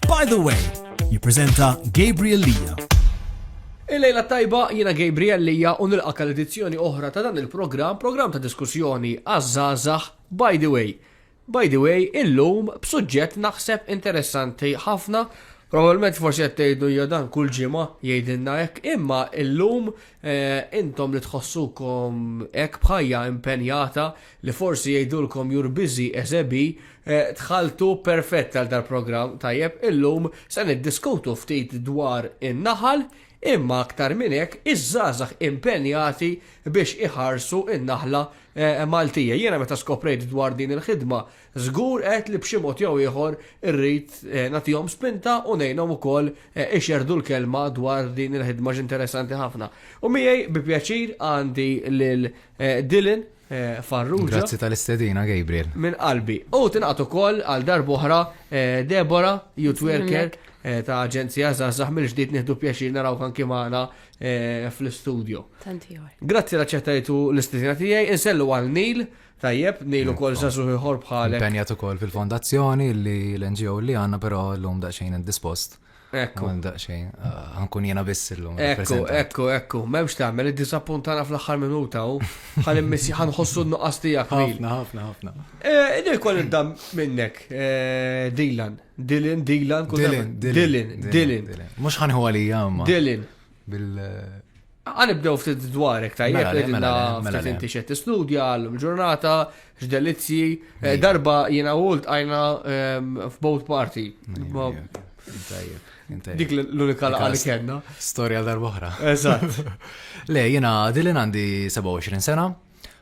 By the way, jippreżenta Gabriel Lija. Il-lejla tajba jiena Gabriel Lija u nilqak għal edizzjoni oħra ta' dan il-programm, programm ta' diskussjoni għaż-żgħażagħ By the way. By the way, illum b'suġġett naħseb interessanti ħafna Probabilment forsi qed tgħidu hija dan kull ġimgħa jgħidilna hekk, imma illum eh, intom li tħossukom hekk bħajja impenjata li forsi jgħidulkom you're busy as a bee, Eh, dħaltu perfett għal dal-programm tajjeb illum se niddiskutu ftit dwar in-naħal imma aktar minn hekk iż-żgħażagħ impenjati biex iħarsu in-naħla eh, Maltija. Jiena meta skoprejt dwar din il-ħidma żgur qed li b'xi mod jew ieħor irrid eh, nagħtihom spinta u ngħinhom ukoll ixerdu l-kelma dwar din il-ħidma x'interessanti ħafna. U miegħi bi pjaċir għandi lil Dylan Farrugia. Grazzi tal-istedina, Gabriel. Minn qalbi. U tinqat ukoll għal darbohra eh, Debora, youth worker eh, ta' Aġenzija Zazah mill-ġdid nieħdu pjaċir naraw kan kimana eh, fl-istudio. Grazzi la ċettajtu l-istedina tiegħi, insellu għal Nil, tajjeb, Nil ukoll Zazah iħor bħalek. Penjat ukoll fil-fondazzjoni li l-NGO li għandna però llum daqsxejn indispost. Ekku. Għan daqxejn, għankun ah, jena biss illum. Ekku, ekku, ekku, memx taħmel, id-disappuntana fl-axħar minuta u għan missi għan ħossu n-nuqqas tijak. Ħafna, ħafna, ħafna. Eh, Idil kol id-dam minnek, eh, Dylan, Dylan, Dylan, Dylan, Dylan, Dylan. Mux ħanħu għalija, ma. Dylan. bil Għan ibdew ftit dwarek tajjeb, mela, mela, mela, mela ftit inti xed istudja għallum ġurnata, x'delizzi, eh, darba jina għult għajna ehm, f'boat party. Dik l-unika laqqa li kena. Storja darba oħra. Eżatt. Le, jina dilin għandi 27 sena,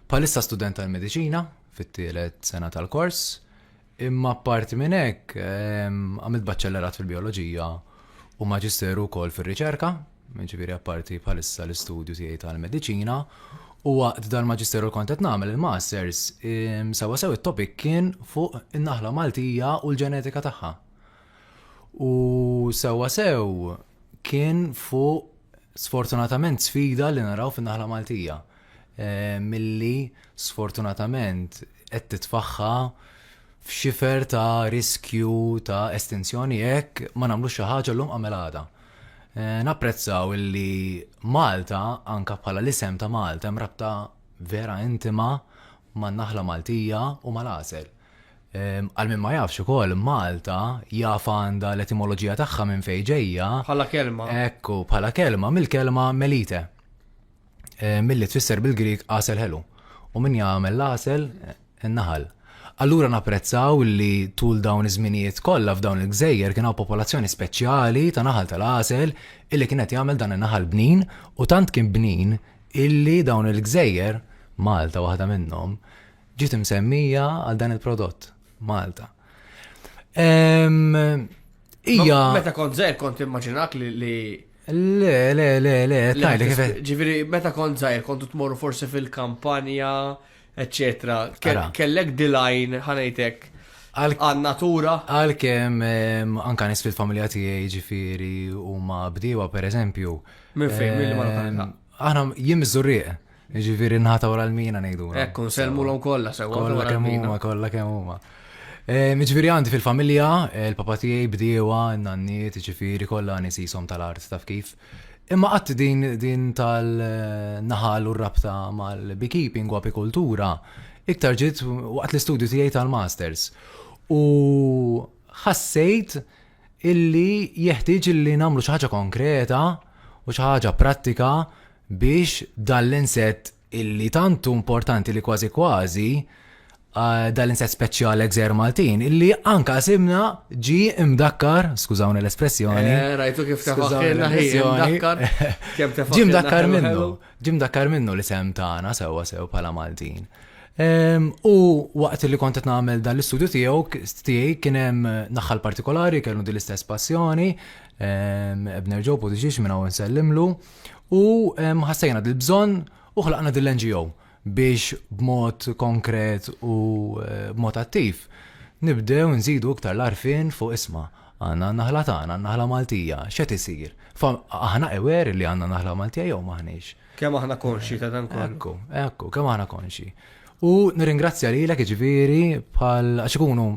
palissa student tal-medicina, fit-tielet sena tal-kors, Imma apparti minn hekk, għamilt baċċellerat fil-bijoloġija u maġisteru wkoll fir-riċerka, ġifieri apparti bħalissa l-istudju tiegħi tal-mediċina, u waqt dal-maġisteru kont qed nagħmel il-masters, sewwa sew it-topic kien fuq in-naħla Maltija u l-ġenetika tagħha. U sewwa sew kien fuq sfortunatament sfida li naraw fin-naħla Maltija. Eh, milli sfortunatament qed titfaħħa f'xifer ta' riskju ta' estensjoni jekk ma nagħmlu xi ħaġa llum għamel għada. Eh, napprezzaw illi Malta, anka bħala l-isem ta' Malta, hemm rabta vera intima man naħla Maltija u mal-għasel. Eh, għal minn ma jafx ukoll Malta jaf għandha l-etimoloġija tagħha minn fejn ġejja. Bħala kelma. Ekku, bħala kelma mill-kelma melite. eh, milli tfisser bil-Grik għasel ħelu. U min jagħmel l-għasel eh, naħal. Allura napprezzaw li tul dawn iż-żminijiet kollha f'dawn il-gżejjer kien hawn popolazzjoni speċjali ta' naħal tal-għasel illi kienet jagħmel dan in-naħal bnin u tant kien bnin illi dawn il-gżejjer Malta waħda minnhom ġiet imsemmija għal dan il-prodott Malta. Ija. Meta kont zer kont immaġinak li Le, le, le, le, tajli kif. Ġifieri meta kont żgħir kontu tmorru forsi fil-kampanja, eċċetera. Kellek dilajn ħanejtek għal-natura. Għal-kem, anka nisfil familja tijaj ġifiri u ma bdiwa, per eżempju. Minn fejn, minn ma Aħna jim zurriq. Ġifieri nħata wara l-mina ngħidu. Ekku, nsellmulhom kollha sewa. Kollha kemm huma, kollha kemm huma. Eh, ġifieri għandi fil-familja, eh, l-papa tiegħi bdiewa, n-nanniet, ġifieri kollha nies jisom tal-art taf kif. Imma qatt din din tal-naħal u rabta mal-beekeeping u apikultura iktar ġiet waqt l-istudju tiegħi tal-masters. U ħassejt illi jeħtieġ illi nagħmlu xi ħaġa konkreta u xi ħaġa prattika biex dan l-insett illi tantu importanti li kważi kważi eh, dan l-insett speċjali gżer Maltin illi anka simna ġi imdakkar, skużawni l-espressjoni. Eh, rajtu kif tefaħħilna ħin, imdakkar. Ġi mdakkar minnu. Ġie mdakkar minnu l-isem tagħna sewwa sew bħala Maltin. U waqt li kont qed nagħmel dan l-istudju tiegħu tiegħi kien hemm naħħal partikolari kellu din l-istess passjoni, Ebner Ġob u diġiex minn hawn nsellimlu, u ħassejna dil-bżonn u ħlaqna din l-NGO biex b'mod konkret u eh, b'mod attiv nibdew nżidu iktar l-arfin fuq isma Għandna n-naħla tagħna, n-naħla Maltija. X'qed isir? Aħna aware li għandna naħla Maltija jew m'aħniex? Kemm aħna konxji ta' dan kollu? Ekku, ekku, kemm aħna konxji. U nirringrazzja lilek jiġifieri bħal għax ikunu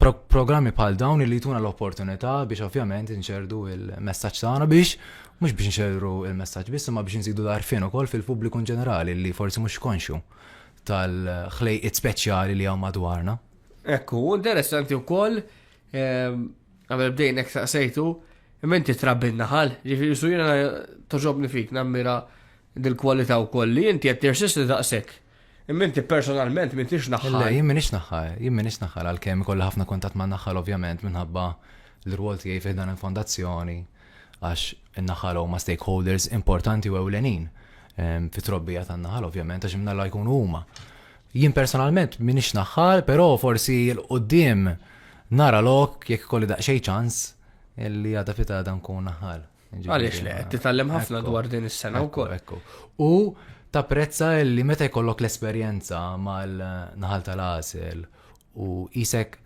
programmi bħal dawn li jtuna l-opportunità biex ovvjament inċerdu il-messaġġ tagħna biex mhux biex nċerru il-messaġġ biss imma biex nżidu l-arfin ukoll fil-pubbliku ġenerali li forsi mhux konxu tal-ħlejqiet speċjali li hawn madwarna. Ekku, interessanti wkoll Ehm, għamil bdejn ek saqsejtu, menti trabbi naħal, ġifiri su jena toġobni fik, nammira dil-kwalita u koll li jinti għed tirsisti daqsek. Minti personalment minti xnaħħal. Jien minix naħħal, jien minix naħħal għal-kem kolla ħafna kontat ma naħħal ovvjament minħabba l-rwol tiegħi fih dan il-fondazzjoni għax in-naħħal huma stakeholders importanti u ewlenin ehm, fit-trobbija tan-naħal ovvjament għax imnalla jkunu huma. Jien personalment m'iniex naħħal, però forsi 'l quddiem nara lok jekk ikolli daqsxejn ċans li għada fit għada nkun naħħal. Għaliex le, qed titgħallem ħafna dwar din is-sena wkoll. U tapprezza li meta jkollok l-esperjenza mal-naħal tal-għasel u isek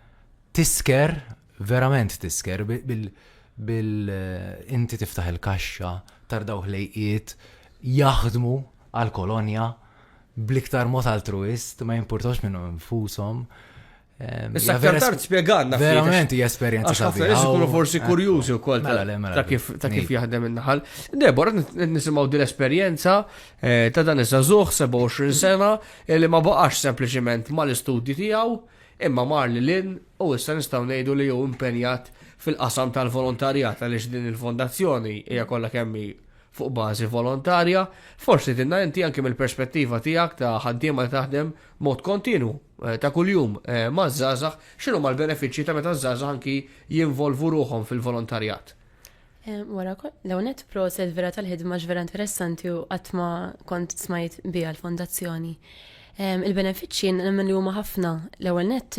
tisker, verament tisker, bil inti tiftaħ il-kaxxa, tardawh lejqiet, jaħdmu għal kolonja bl-iktar mod altruist, ma jimpurtax minnhom infushom. Ehm, Issa aktar tard spjegalna. Verament hija esperjenza ta' ħafna nies ikunu forsi kurjużi wkoll mela, mela, ta' kif ta' kif jaħdem in-naħal. Debor qed nisimgħu din l-esperjenza eh, ta' dan iż-żagħżugħ 27 sena eh, li ma baqax sempliċement mal-istudji tiegħu imma mar li lin u issa nistgħu ngħidu li hu impenjat fil-qasam tal-volontarjat għaliex din il-fondazzjoni hija kollha kemm fuq bażi volontarja, forsi tinna inti anki mill-perspettiva tiegħek ta' ħaddiema li taħdem mod kontinu eh, ta' kuljum eh, ma' żgħażagħ, x'inhu mal-benefiċċji ta' meta żgħażagħ anki jinvolvu ruħhom fil-volontarjat. Eh, wara, l-għonet proset vera tal-ħidma vera interessanti u għatma kont smajt bija l-fondazzjoni. Il-benefiċċji nemmen li huma ħafna l-ewwel net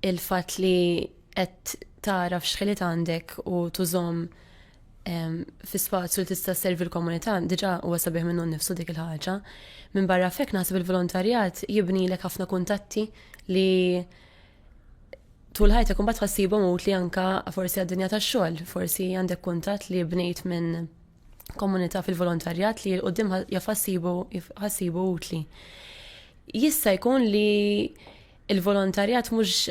il-fatt li qed tara f'xħilit għandek u tużom fi spazju li tista' servi l-komunità diġà huwa sabiħ minnu nnifsu dik il-ħaġa. Minn barra fek naħseb il-volontarjat jibni lek ħafna kuntatti li tul ħajtek imbagħad ħassibhom mut li anka forsi għad-dinja tax-xogħol, forsi għandek kuntatt li bnejt minn komunità fil-volontarjat li l-qoddim jafassibu ħassibu utli. Jista' jkun li Il-volontarjat mhux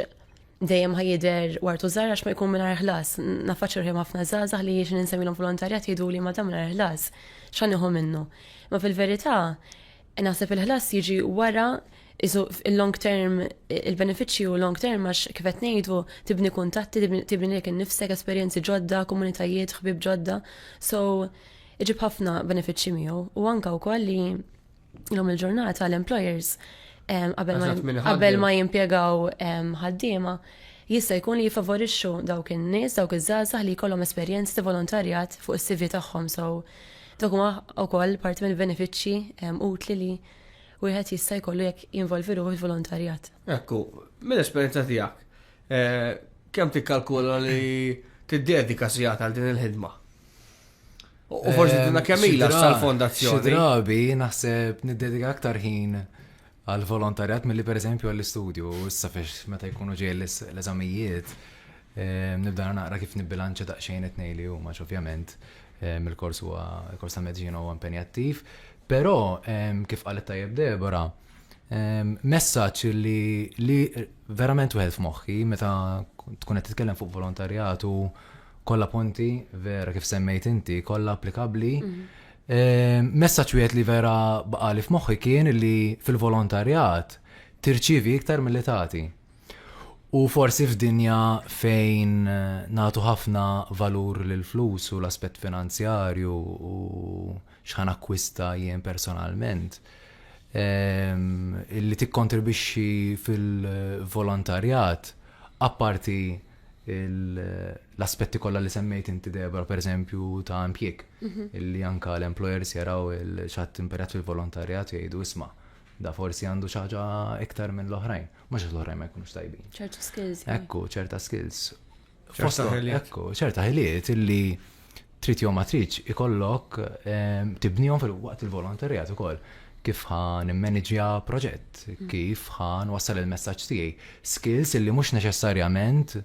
dejjem ħajider wartu żgħar għax ma jkun mingħajr ħlas. Nafaċċu rħim ħafna żgħażagħ li jiex ninsemmilhom volontarjat jgħidu li ma dam mingħajr ħlas. X'għan iħu minnu. Ma fil-verità, naħseb il-ħlas jiġi wara isu il-long term, il-benefiċċju long term għax kif qed ngħidu tibni kuntatti, tibni lek innifsek esperjenzi ġodda, komunitajiet, ħbib ġodda. So, iġib ħafna benefiċċji miegħu u anka wkoll li Illum il-ġurnata l-employers qabel ma jimpjegaw ħaddiema jista' jkun li jifavorixxu dawk in-nies, dawk iż-żgħażagħ li jkollhom esperjenz ta' volontarjat fuq is-CV tagħhom so dak huma wkoll parti mill-benefiċċji utli li wieħed jista' jkollu jekk jinvolvi ruħu fil-volontarjat. Ekku, mill-esperjenza tiegħek, eh, kemm tikkalkula li tiddedika sigħat għal din il-ħidma? U forsi eh, tina kemmila sal-fondazzjoni. Drabi naħseb niddedika aktar ħin għal volontarjat mill-li per eżempju għall-istudju, issa fiex meta jkunu ġej l-eżamijiet, eh, nibda naqra kif nibbilanċa daqxejn it-nej li huma ovvjament eh, mill-kors huwa kors ta' medġina huwa impenjattiv, però kif qalet tajjeb Debora, messaċ li verament wieħed f'moħħi meta tkun qed titkellem fuq volontarjat u Kollha punti vera kif semmejt inti, kollha applikabbli. Ehm, messaġġ wieħed li vera baqali f'moħħi kien li fil-volontarjat tirċivi iktar mill tagħti. U forsi f'dinja fejn eh, natu ħafna valur lil flus u l-aspett finanzjarju u xħan akkwista jien personalment. Ehm, li tikkontribixxi fil-volontarjat apparti l-aspetti kollha li semmejt inti Debra pereżempju ta' impjieg mhm. illi anka l-employers jaraw il-ċatt imperjat fil-volontarjat jgħidu isma' da forsi għandu xaġa iktar minn l-oħrajn, mhux l-oħrajn ma jkunux tajbin. ċerta skills. Ekku, ċerta skills. Fosta ekku, ċerta ħiliet illi trid jew ma tridx ikollok ehm, tibnihom fil-waqt il-volontarjat ukoll kif ħan immaniġja proġett, mm. kif ħan wassal il-messaġġ tiegħi. Skills li mhux neċessarjament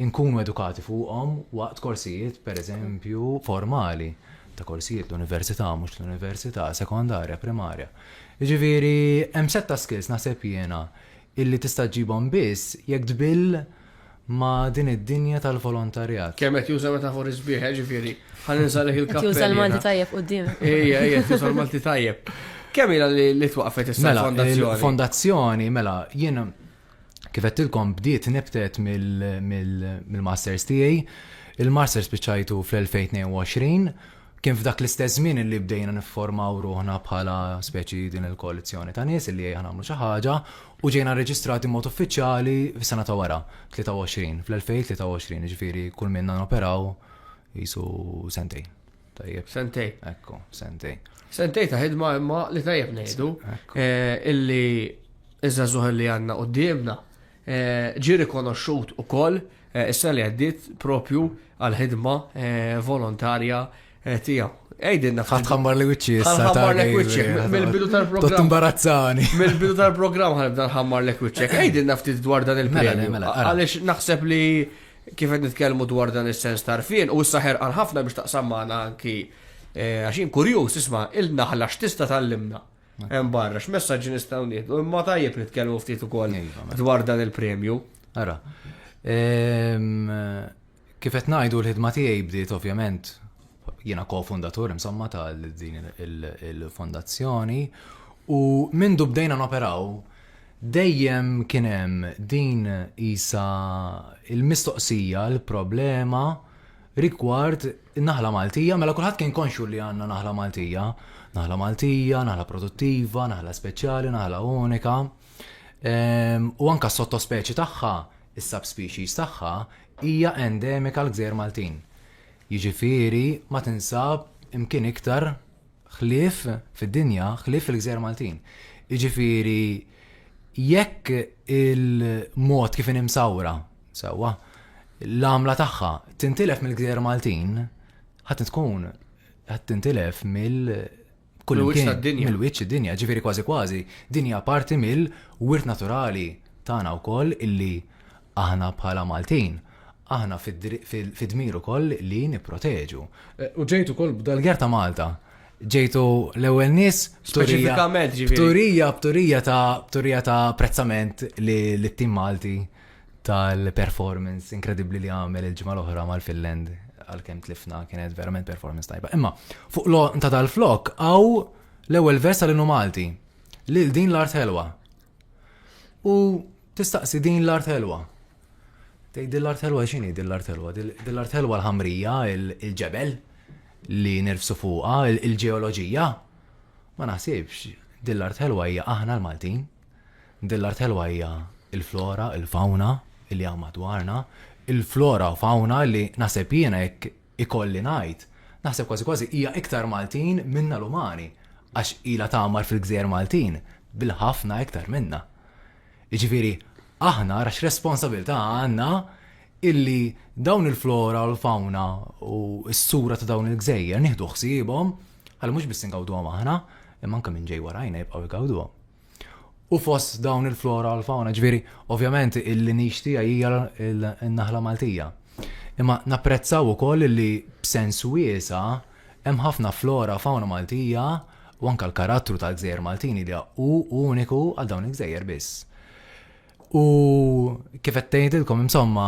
inkunu edukati fuqhom waqt korsijiet, per eżempju, formali ta' korsijiet l-università, mhux l-università, sekondarja, primarja. Ġifieri, hemm setta skills naħseb jiena illi tista' ġibhom biss jekk tbill ma' din id-dinja tal-volontarjat. Kemm qed juża metafori sbieħ, eh, ġifieri, ħa ninżalek il-kappell. Qed juża l-Malti tajjeb quddiemek. Ejja, ejja, qed juża l-Malti tajjeb. Kemm ilha li twaqqfet issa mela, l-fondazzjoni? Mela, fondazzjoni mela, jien kif qedtilkom bdiet nibtet mill-masters tiegħi. Il-masters spiċċajtu fl-2022 kien f'dak l-istess żmien li bdejna nifformaw ruħna bħala speċi din il-koalizzjoni ta' nies li jgħamlu xi ħaġa u ġejna rreġistrati b'mod uffiċjali fis-sena ta' wara, 23, fl-2023, jiġifieri kull minna noperaw qisu sentej. Tajjeb. Sentej. Ekku, sentej. Sentej ta' ħidma imma li tajjeb ngħidu eh, illi iż-żagħżugħ li għandna qudiemna eh, ġi rikonoxxut ukoll eh, is-sena li għaddiet propju għal ħidma volontarja Et eh, jaw, għajdinna fħat. Għambar li wicċi, għambar li wicċi, mill-bidu tal-program. Tumbarazzani. Mill-bidu tal-program għalibda għambar li wicċi. Għajdinna ftit dwar dan il-premju. Mela, mela, Għalix naħseb li kif qed nitkellmu dwar dan is-sens tarfien u issa ħerqan ħafna biex taqsam magħna anki eh, għaxin kurjuż isma' il-naħla x'tista' tal-limna. Hemm barra x'messaġġi nistgħu nieħdu imma tajjeb nitkellmu ftit ukoll iva, mela. dwar dan il-premju. Ara. Ehm, Kif qed ngħidu l-ħidma tiegħi bdiet ovvjament jiena ko-fundatur insomma ta' din il-fondazzjoni u mindu bdejna noperaw dejjem kien hemm din qisha l-mistoqsija, l-problema rigward in-naħla Maltija, mela kulħadd kien konxju li għandna naħla Maltija, naħla Maltija, naħla produttiva, naħla speċjali, naħla unika, u anke s-sottospeċi tagħha Is-subspecies tagħha hija endemika l-Gżejjer Maltin, jiġifieri ma tinsab imkien iktar ħlief fid-dinja ħlief fil-Gżejjer Maltin. Jiġifieri jekk il-mod kif inhi msawra, sewwa, l-għamla tagħha tintilef mill-Gżejjer Maltin, ħadd tkun ħadd tintilef mill kullimkien mill-wiċċ id-dinja, ġifieri kważi kważi dinja parti mill-wirt naturali tagħna wkoll illi aħna bħala Maltin aħna fid-dmir ukoll li nipproteġu. Eh, u ġejtu kol b'dal-ger ta' Malta. Ġejtu l-ewwel nies b'turija b'turija b'turija ta' b'turija ta' prezzament li t-tim Malti tal-performance inkredibbli li għamel il-ġimgħa l-oħra mal-Finland għalkemm tlifna kienet verament performance tajba. Imma fuq lo ta' dal-flok għaw l-ewwel vers tal-inu Malti li din l-art helwa. U tistaqsi din l-art helwa. Tej din l-art helwa x'inhi din l-art helwa? Din l-art helwa l-ħamrija, il-ġebel li nirfsu fuqha, il-ġeoloġija. Ma naħsibx din l-art helwa hija aħna l-Maltin. Din l-art ħelwa hija l-flora, il-fawna li hawn madwarna, il-flora u fawna li naħseb jiena jekk ikolli ngħid, naħseb kważi kważi hija iktar Maltin minna l-umani, għax ilha tagħmar fil-gżejjer Maltin bil-ħafna iktar minna. Jiġifieri aħna ara x'responsabilità għandna illi dawn il-flora u l-fawna u s-sura ta' dawn il-gżejjer nieħdu ħsiebhom ħalli mhux biss ingawduhom aħna, imma anke min ġej warajna jibqgħu jgawduhom. U fost dawn il-flora u l-fauna, ġviri, ovvjament il-linix tija hija l-naħla Maltija. Imma napprezzaw ukoll li b'sens wiesa hemm ħafna flora u fauna Maltija u anka l-karattru tal-gżejjer Maltini li hu uniku għal dawn il-gżejjer biss. U kif qed tgħidilkom insomma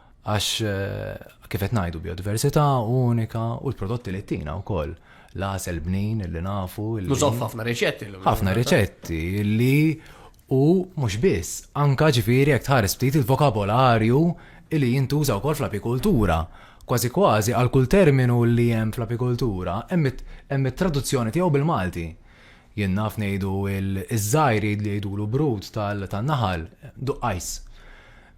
Għax kif qed ngħidu biodiversità unika u l-prodotti li tina wkoll l-għasel bnin li nafu. Nużaw ħafna riċetti. Ħafna riċetti li u mhux biss, anka ġifieri jekk tħares ftit il-vokabolarju li jintuża wkoll fl-apikultura. Kważi kważi għal kull terminu li hemm fl-apikultura hemm it-traduzzjoni tiegħu bil-Malti. Jien naf ngħidu iż-żgħir jgħidulu brut tan-naħal, duqqajs.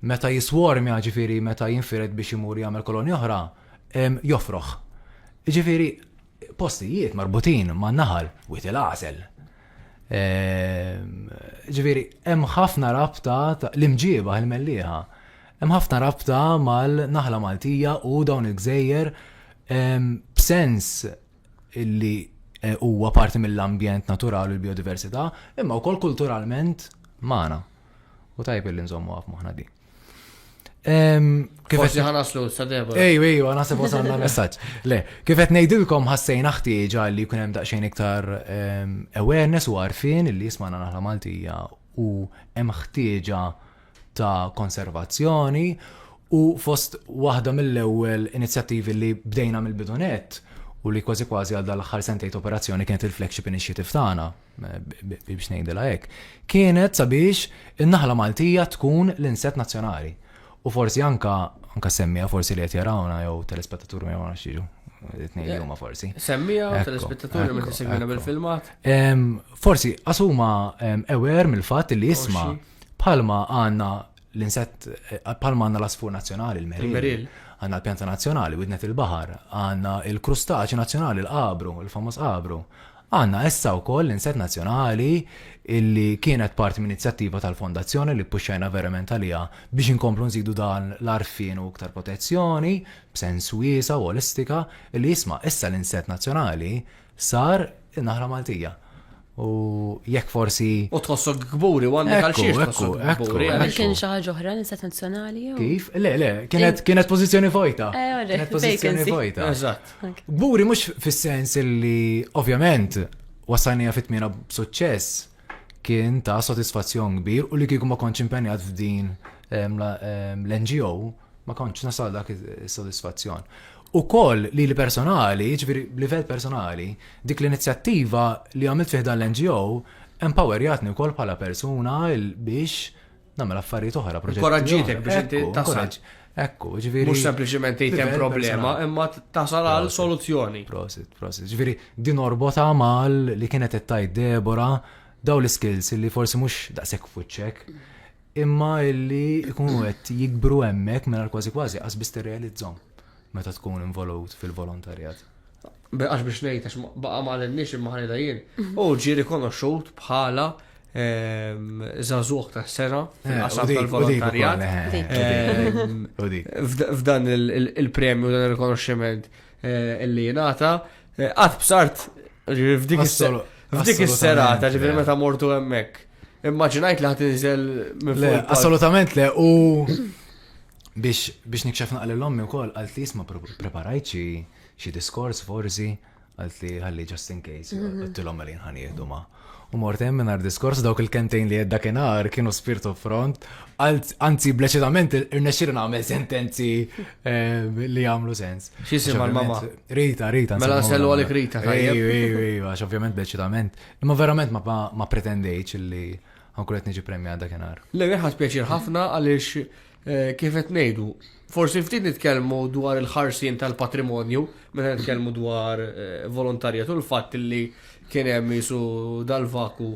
Meta jiswormja, jiġifieri meta jinfired biex imur jagħmel kolonja oħra, jofroħ. Jiġifieri postijiet marbutin man-naħal, Wied il-Għażel. Jiġifieri hemm ħafna rabta l-imġieba il-Mellieħa. Hemm ħafna rabta mal-naħla Maltija u dawn il-gżejjer b'sens li e, huwa parti mill-ambjent naturali u l-biodiversità, imma wkoll kulturalment magħna. U tajb li nżommu għaf moħna di. Kif qed ħanaslu sa Debora? Ejju, ejju, għana se wasalna messaġġ. Le, kif qed ngħidilkom ħassejna ħtieġa li jkun hemm daqsxejn iktar awareness u għarfien li jismana naħla Maltija u hemm ħtieġa ta' konservazzjoni u fost waħda mill-ewwel inizjattivi li bdejna mill-bidunet u li kważi kważi għal dal-aħħar sentejt operazzjoni kienet il-flagship initiative tagħna biex ngħidilha hekk, kienet sabiex in-naħla Maltija tkun l-inset nazzjonali. U forsi anka anka semmija forsi li qed jarawna jew telespettaturi ma jgħamlu xiġu. Tnejn eh, huma forsi. Semmija u telespettaturi ma tisegwina bil-filmat. Forsi asuma ewer mill-fatt li jisma' bħalma għandna l-insett eh, palma għanna l-asfur nazjonali, il-meril, għanna l-pjanta nazjonali, widnet il-bahar, għanna il-krustaċi nazjonali, l-qabru, il-famos qabru. Għanna essa u koll l-insett nazjonali illi kienet parti minn inizjattiva tal-fondazzjoni li puxxajna verament għalija biex inkomplu nżidu dan l-arfin u iktar protezzjoni b'sens wiesa u olistika illi jisma' issa l-insett nazjonali sar in-naħla Maltija. U jekk forsi. U tħossok kburi u għandek għal xiex tħossok kburi. Għal kien xi ħaġa oħra nisat nazzjonali jew. Kif? Le, le, kienet kienet pożizzjoni vojta. Eh, kienet pożizzjoni vojta. Eżatt. Kburi mhux fis-sens li ovvjament wasalnija fit-tmiena b'suċċess kien ta' sodisfazzjon kbir u li kieku ma kontx impenjat f'din l-NGO ma kontx nasal dak is-sodisfazzjon. U koll li l-personali, ġviri livell personali, dik l-inizjattiva li għamilt fiħdan l-NGO, empowerjatni u koll bħala persuna biex Nagħmel affarijiet oħra, proġetti. Inkoraġġitek biex inti tasal. Ekku, ġviri. Mux sempliciment jtem problema, imma tasal għal soluzzjoni. Prosit, prosit. Ġviri, din orbota mal li kienet tajt Debora, daw l-skills li forsi mux daqsek fuċċek, imma illi ikunu għet jikbru emmek minn kważi kważi għasbis realizzom meta tkun involut fil-volontarjat. Għax biex ngħid għax baqa' ma għalinniex imma ħalila jien. Mhm. U ġie rikonoxxut bħala ehm, zazuħ ta' sena eh, fil-qasam tal-volontarjat. Eh, ehm, f'dan il-premju, dan il-rikonoxximent eh, li jenata, għad b'sart f'dik is-serata, ġifiri meta mortu hemmhekk. Immaġinajt li ħadd inżel Le, assolutament le, u biex nikxef naqli l-ommi wkoll għalt li jisma' preparajċi xi diskors forsi, għalt li ħalli just in case, mhm. għattilom għalin ħan jihdu ma. U mort hemm minn diskors dawk il-kentejn li jedda kienar kienu spirtu front, anzi bleċitament irnexxilu nagħmel sentenzi eh, li jagħmlu sens. X'isim għal-mama? Rita, Rita. Mela nsellu għalik Rita. Ej, ej, ej, għax ovvjament bleċitament. Imma verament ma pretendejċ li għankulet niġi premja għadda kienar. Le, għax pjaċir ħafna għaliex Eh, kif qed ngħidu, forsi ftit nitkellmu dwar il-ħarsien tal-patrimonju meta nitkellmu dwar eh, volontarjet u l-fatt li kien hemm isu dal-vaku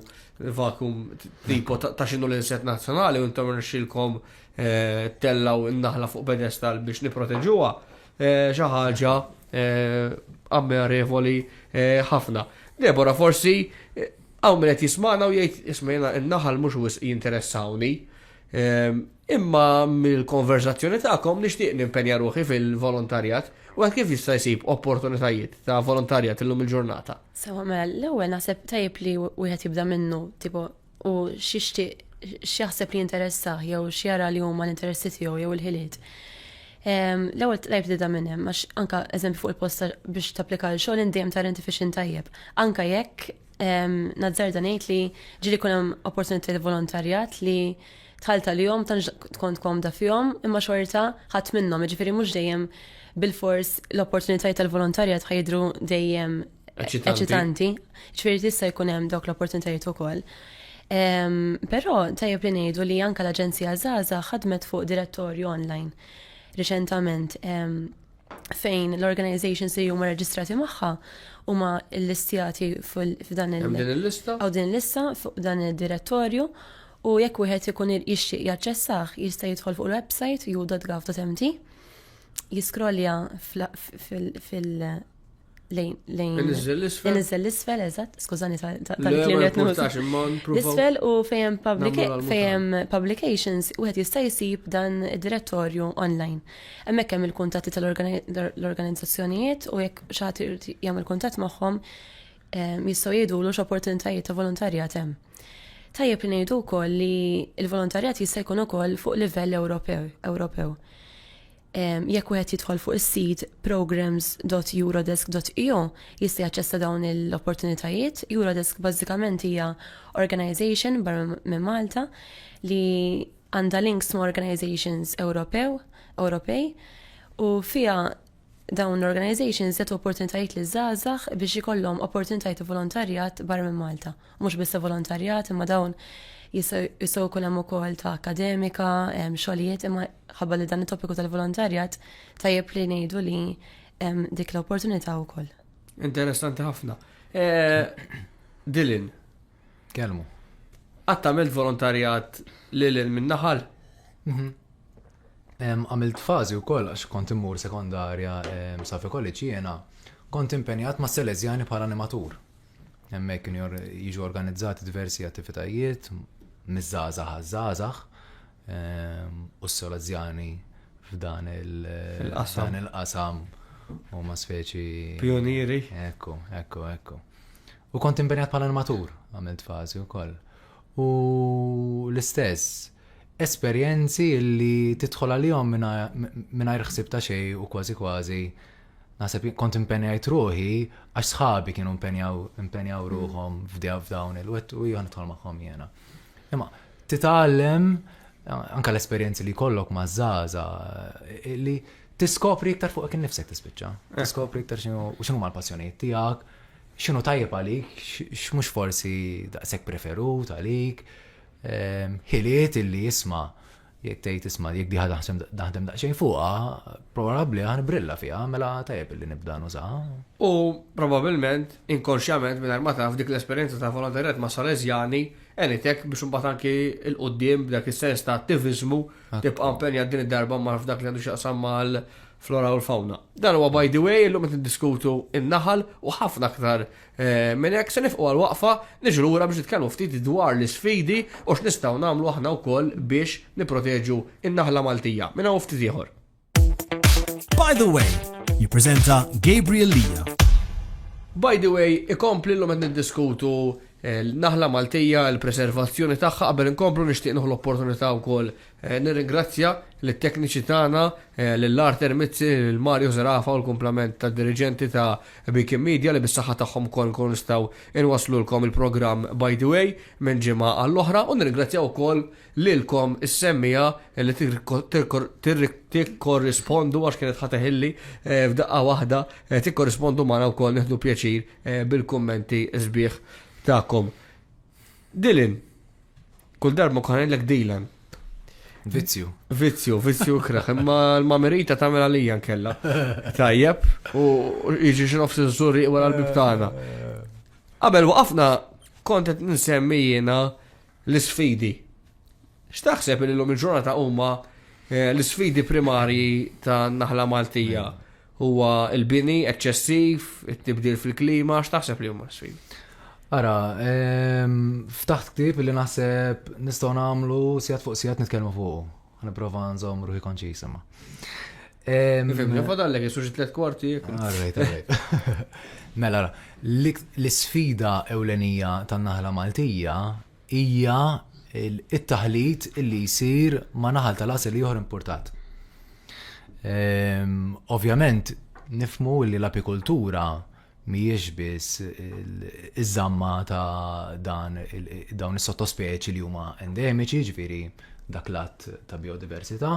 vakum tipo ta' xinu l-inset nazzjonali u intom rxilkom eh, tellaw in-naħla fuq pedestal biex niproteġuha xi ħaġa ammirevoli ħafna. Debora forsi hawn min qed jismana u jgħid ismejna in-naħal mhux wisq jinteressawni Imma mill-konverzazzjoni tagħkom nixtieq nimpenja ruħi fil-volontarjat u għad kif jista' jsib opportunitajiet ta' volontarjat illum il-ġurnata. Sewa mela, l-ewwel naħseb tajjeb li wieħed jibda minnu, tipo u xixtieq x'jaħseb li jinteressa jew x'jara li huma l-interessi tiegħu jew il-ħiliet. L-ewwel tajb tibda minn hemm għax anke eżempju fuq il-posta biex tapplika l xogħol dejjem tar intifixin tajjeb. Anke jekk Nazzarda ngħid li ġili kun hemm opportunitajiet volontarjat li tħalt għalihom tan tkun komda fihom imma xorta ħadd minnhom, jiġifieri mhux dejjem bil-fors l-opportunitajiet tal-volontarjat ħajdru dejjem eċitanti. Ġifieri tista' jkun hemm dawk l-opportunitajiet ukoll. Però tajjeb li ngħidu li anke l-Aġenzija Zaza ħadmet fuq direttorju online riċentament fejn l-organizations li huma reġistrati magħha huma l-listjati f'dan il- din il-lista? Għaw din il-lista fuq dan il-direttorju u jekk wieħed ikun jixtieq jaċċessah jista' jidħol fuq il-website u.gov.mt jiskrolja fil- lejn il-izzel l-isfel, eżat, skużani tal-klim li L-isfel u fejem publications u għet jista jisib dan direttorju online. Emmek hemm il-kuntatti tal-organizzazzjonijiet u jekk xaħti jgħam il-kuntatt magħhom jistgħu jgħidu l opportunitajiet ta' volontarjat hemm. Tajjeb li ngħidu wkoll li l-volontarjat jista' jkun ukoll fuq livell Ewropew. Jekk wieħed jidħol fuq is-sit programs.eurodesk.eu jista' jaċċessa dawn l-opportunitajiet. Eurodesk bażikament hija organization barra minn Malta li għandha links ma' organizations Ewropew, Ewropej, u fiha dawn l-organizations jagħtu opportunitajiet li żgħażagħ biex ikollhom opportunitajiet volontarjat barra minn Malta. Mhux biss ta' volontarjat, imma dawn jistgħu jkun hemm ukoll ta' akademika, xogħlijiet, imma ħabba li dan it-topiku tal-volontarjat tajjeb li ngħidu li dik l-opportunità wkoll. Interessanti ħafna. Eh, Dilin. Kelmu. Għattamilt volontarjat li l minn naħal? Mhm. Għamilt fazi u koll, għax kont immur sekondarja safi kolliċi jena, kont impenjat ma' Selezjani bħala animatur. Hemmhekk kienu jiġu organizzati diversi attivitajiet miż-żgħażagħ għaż-żgħażagħ ehm, u s-solazzjani f'dan il-qasam u ma speċi. Pionieri. Ekku, ekku, ekku. U kont impenjat bħala animatur, għamilt fazi u koll. U l-istess, esperienzi li titħol għalihom mingħajr ħsib ta' xej u kważi kważi naħseb kont impenjajt ruħi għax sħabi kienu impenjaw ruħhom f'dawn il-wet u jgħan nidħol magħhom jiena. Imma titgħallem anka l-esperjenzi li kollok ma' zaza li tiskopri iktar fuq kien nifsek tispiċċa. Eh. Tiskopri iktar xinu ma' l-passjonijiet tiegħek, xinu tajjeb għalik, x'mhux forsi daqshekk preferut għalik, ehm, ħiliet illi jisma' Jekk tgħid isma' jekk di ħadaħsem daħdem daqsxejn fuqha, probabbli ħa nibrilla fiha mela tajjeb li nibda nużaha. U probabbilment, inkonxjament mingħajr ma taf dik l-esperjenza ta' volontarjat ma' Salesjani għenitek biex imbagħad anki 'l quddiem b'dak is-sens ta' attiviżmu tibqa' impenjat din id-darba ma' f'dak li għandu x'jaqsam mal-flora u l-fawna. Dan huwa by the way illum qed niddiskutu n-naħal u ħafna aktar Minn hekk se nifqu għal waqfa, niġu lura biex nitkellmu ftit dwar l-isfidi u x'nistgħu nagħmlu aħna wkoll biex nipproteġu n-naħla Maltija minn hawn ftit ieħor. By the Way jippreżenta Gabriel Lia. By the Way ikompli llum qed niddiskutu l-naħla Maltija, l-preservazzjoni tagħha qabel inkomplu nixtieq nieħu l-opportunità wkoll Nirringrazzja lit-tekniċi tagħna, lil Arthur Mizzi, lil Mario Zerafa u l-kumplament tad-diriġenti ta' Beacon Media li bis-saħħa tagħhom ukoll inkunu nistgħu inwasslulkom il-programm By the Way minn ġimgħa għall-oħra u nirringrazzjaw ukoll lilkom is-semmiegħa li tikkorrispondu għax kienet ħa teħilli f'daqqa waħda tikkorrispondu magħna wkoll nieħdu pjaċir bil-kummenti sbieħ tagħkom. Dylan. Kull darba nkun għanillek Dylan. Vizzju. Vizzju, vizzju kraħ. Imma l-mamerita tamel għalija nkella. Tajjeb, u iġi xinof s-zurri u għal-bib tagħna. Qabel waqafna kontet nsemmi jiena l-sfidi. X'taħseb li l-lum il-ġurnata huma eh, l-sfidi primarji ta' naħla Maltija? Huwa l-bini eċċessiv, it-tibdil fil-klima, x'taħseb li huma s-sfidi? Ara, ehm, ftaħt ktib li naħseb nistgħu nagħmlu sigħat fuq sigħat nitkellmu fuq. Nipprova nżomm ruħi konċis imma. Ehm, Fim, nifadallek, jisuġi tliet kwarti. Għarrejt, għarrejt. Mela, l-sfida ewlenija tan-naħla Maltija hija t-taħlit li jsir ma' naħal tal-għasel ieħor importat. Ehm, ovvjament, nifmu li l-apikultura mhijiex biss iż-żamma ta' dan dawn is-sottospeċi li huma endemiċi, ġifieri dak l-att ta' biodiversità,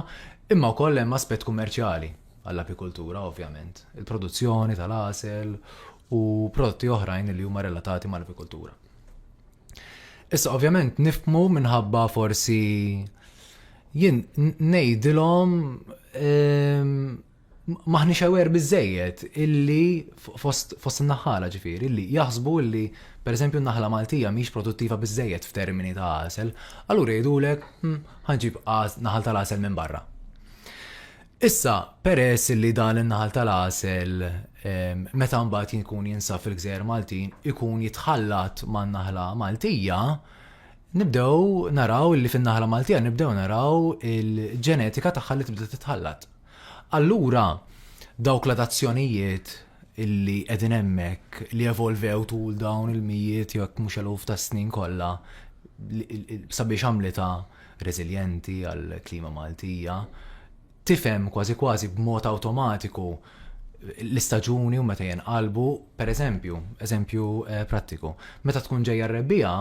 imma wkoll hemm aspett kummerċjali għall-apikultura, ovvjament, il-produzzjoni tal-għasel u prodotti oħrajn li huma relatati mal-apikultura. Issa ovvjament nifmu minħabba forsi jien ngħidilhom ehm, maħni xewer bizzejiet illi fost, fost naħħala ġifir, illi jaħsbu illi per eżempju naħla Maltija miex produttiva bizzejiet f'termini ta' għasel, allura jgħidulek hm, ħanġib naħal tal-għasel minn barra. Issa, peress li dan in-naħal tal-għasel, meta mbagħad jkun jinsab fil-gżejjer Maltin, ikun jitħallat man-naħla Maltija, nibdew naraw li fin-naħla Maltija nibdew naraw il-ġenetika tagħha li tibda titħallat. Allura, dawk l-adazzjonijiet li qegħdin hemmhekk, li evolvew tul dawn il-mijiet jekk mhux eluf ta' snin kollha sabiex għamlitha, reżiljenti għall-klima Maltija, tifhem kważi kważi b'mod awtomatiku l-istaġuni u meta jenqalbu, per eżempju, eżempju eh, prattiku. Meta tkun ġejja r-rebbija,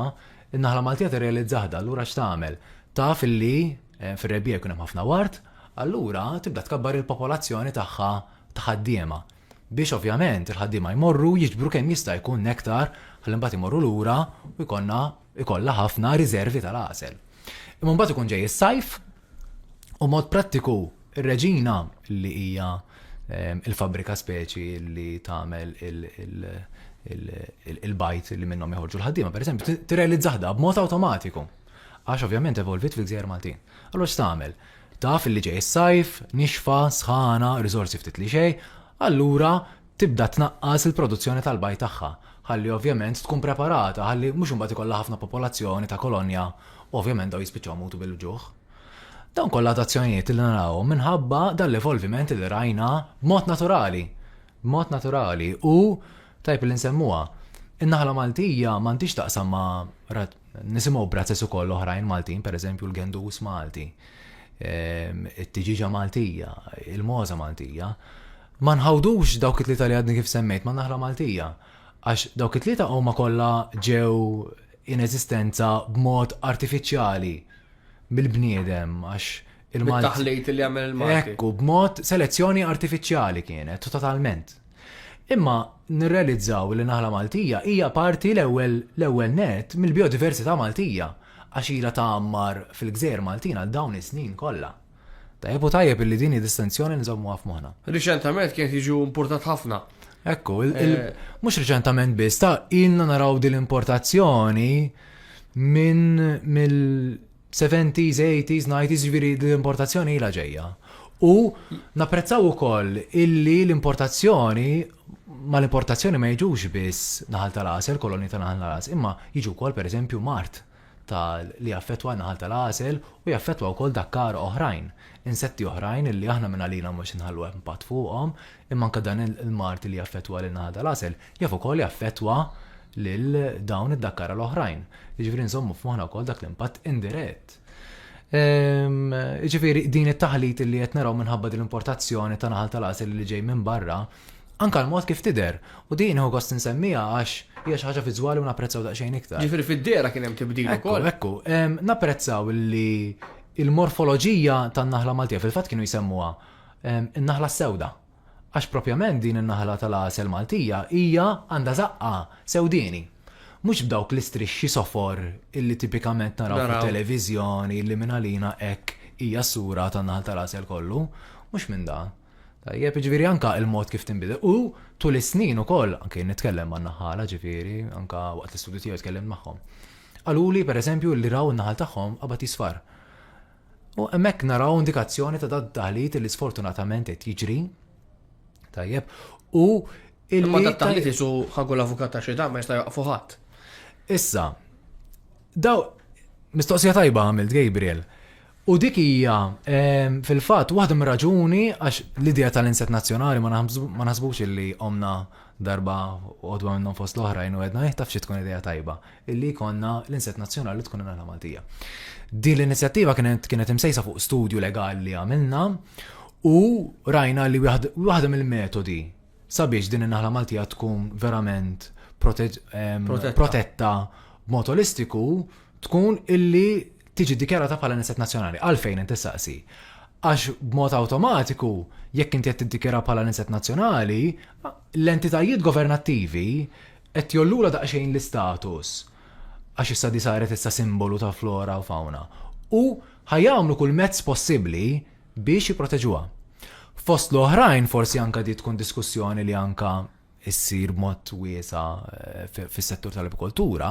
in-naħla Maltija tirrealizzaħda, allura x'tagħmel? Taf illi eh, fir-rebbija jkun hemm ħafna wart, allura tibda tkabbar il-popolazzjoni tagħha ta' ħaddiema. Biex ovvjament il-ħaddiema jmorru jiġbru kemm jista' jkun nektar ħalli mbagħad imorru lura u jkollna ikollha ħafna riżervi tal-għasel. Imma mbagħad ikun ġej is-sajf u mod prattiku ir-reġina li hija ehm, il-fabrika speċi li tagħmel il-bajt li minnhom joħorġu l-ħaddiema, pereżempju, tirrealizzah da b'mod awtomatiku. Għax ovvjament evolvit fil-gżejjer Maltin. Allora x'tagħmel? Taf li ġej is-sajf, nixfa, sħana, riżorsi ftit li xej, allura tibda tnaqqas il-produzzjoni tal-bajd tagħha ħalli ovvjament tkun preparata ħalli mhux imbagħad ikollha ħafna popolazzjoni ta' kolonja u ovvjament dawn jispiċċaw imutu bil-uġuħ. Dawn kollha adazzjonijiet li narawhom minħabba dan l-evolviment li rajna b'mod naturali, b'mod naturali u tajjeb li nsemmuha. In-naħla Maltija m'għandhiex taqsam ma' nisimgħu b'razzez ukoll oħrajn Maltin, pereżempju l-gendus Malti, it-tiġiġa Maltija, il-mogħża Maltija. Ma nħawdux dawk it-tlieta li għadni kif semmejt man-naħla Maltija, għax dawk it-tlieta huma kollha ġew in eżistenza b'mod artifiċjali mill-bniedem għax il-Malti. Bit-taħlit li għamel il-Malti. Hekk hu, b'mod selezzjoni artifiċjali kienet, totalment. Imma nirrealizzaw li naħla Maltija hija parti l-ewwel l-ewwel nett mill-bijodiversità Maltija għax ilha tgħammar fil-gżejjer Maltin għal dawn is-snin kollha. Tajjeb u tajjeb illi din hi distinzjoni nżommuha f'moħħna. Riċentament kien jiġu importat ħafna. Ekku, eh, mhux riċentament biss, ta' ilna naraw din l-importazzjoni minn mill-70s, 80s, 90s, ġviri l-importazzjoni ila ġejja. U napprezzaw ukoll illi l-importazzjoni ma l-importazzjoni ma jiġux biss naħal tal-għasel, koloni ta' naħal tal-għasel, imma jiġu wkoll pereżempju mart ta' li jaffettwa n-naħal tal-għasel u jaffettwa wkoll dakkar oħrajn, insetti oħrajn illi aħna minn għalina mhux se nħallu impatt fuqhom, imma anke dan il-mard li jaffettwa lin-naħal tal-għasel jaf ukoll jaffettwa lil dawn id-dakkara l-oħrajn. Jiġifieri nżommu f'moħħna wkoll dak l-impatt indirett. Jiġifieri din it-taħlit li qed naraw minħabba din l-importazzjoni ta' naħal tal-għasel li ġej minn barra, Anke l-mod kif tidher, u din nieħu gost insemmiha għax hija xi ħaġa viżwali u napprezzaw daqsxejn iktar. Ġifieri fid-dehra kien hemm tibdil ukoll. Ekku, ekku. Napprezzaw li l-morfoloġija tan-naħla Maltija, fil-fatt kienu jsemmuha n-naħla s-sewda, għax propjament din in-naħla tal-għasel Maltija hija għandha żaqqa sewdieni. Mhux b'dawk l-istrixxi sofor li tipikament naraw fit-televiżjoni li mingħalina hekk hija s-sura tan-naħal tal-għasel kollu. Mhux minn dan. Tajjeb, ġviri anka il-mod kif tinbidel. U tul is-snin ukoll, anke nitkellem ma' naħala ġviri, anka waqt l-istudju tiegħu tkellem magħhom. Qaluli, per eżempju, li raw naħal tagħhom qabad jisfar. U hemmhekk naraw indikazzjoni ta' dad taħlit li sfortunatament qed jiġri. Tajjeb, u il Ma dad taħlit isu ħagu l-avukat ta' xi ma jista' jaqfu ħadd. Issa, daw mistoqsija tajba għamilt Gabriel. U dik hija, fil-fatt, waħda mir-raġuni għax l-idea tal-inset nazzjonali ma naħsbux illi omna darba għodwa minnhom fost l-oħrajn u għedna taf xi tkun idea tajba illi konna l-inset nazzjonali tkun il Maltija. Din l-inizjattiva kienet kienet imsejsa fuq studju legali li għamilna u rajna li waħda mill-metodi sabiex din in-naħla Maltija tkun verament protetta b'mod olistiku tkun illi tiġi ddikjarata bħala nesset nazzjonali. Għalfejn inti saqsi? Għax b'mod awtomatiku, jekk inti qed tiddikjara bħala nesset nazzjonali, l-entitajiet governattivi qed jollula daqsxejn l-istatus għax issa di saret issa simbolu ta' flora u fauna. U ħajamlu kull mezz possibbli biex jiproteġuha. Fost l-oħrajn forsi anka di tkun diskussjoni li anka issir b'mod wiesa' fis-settur tal-apikoltura,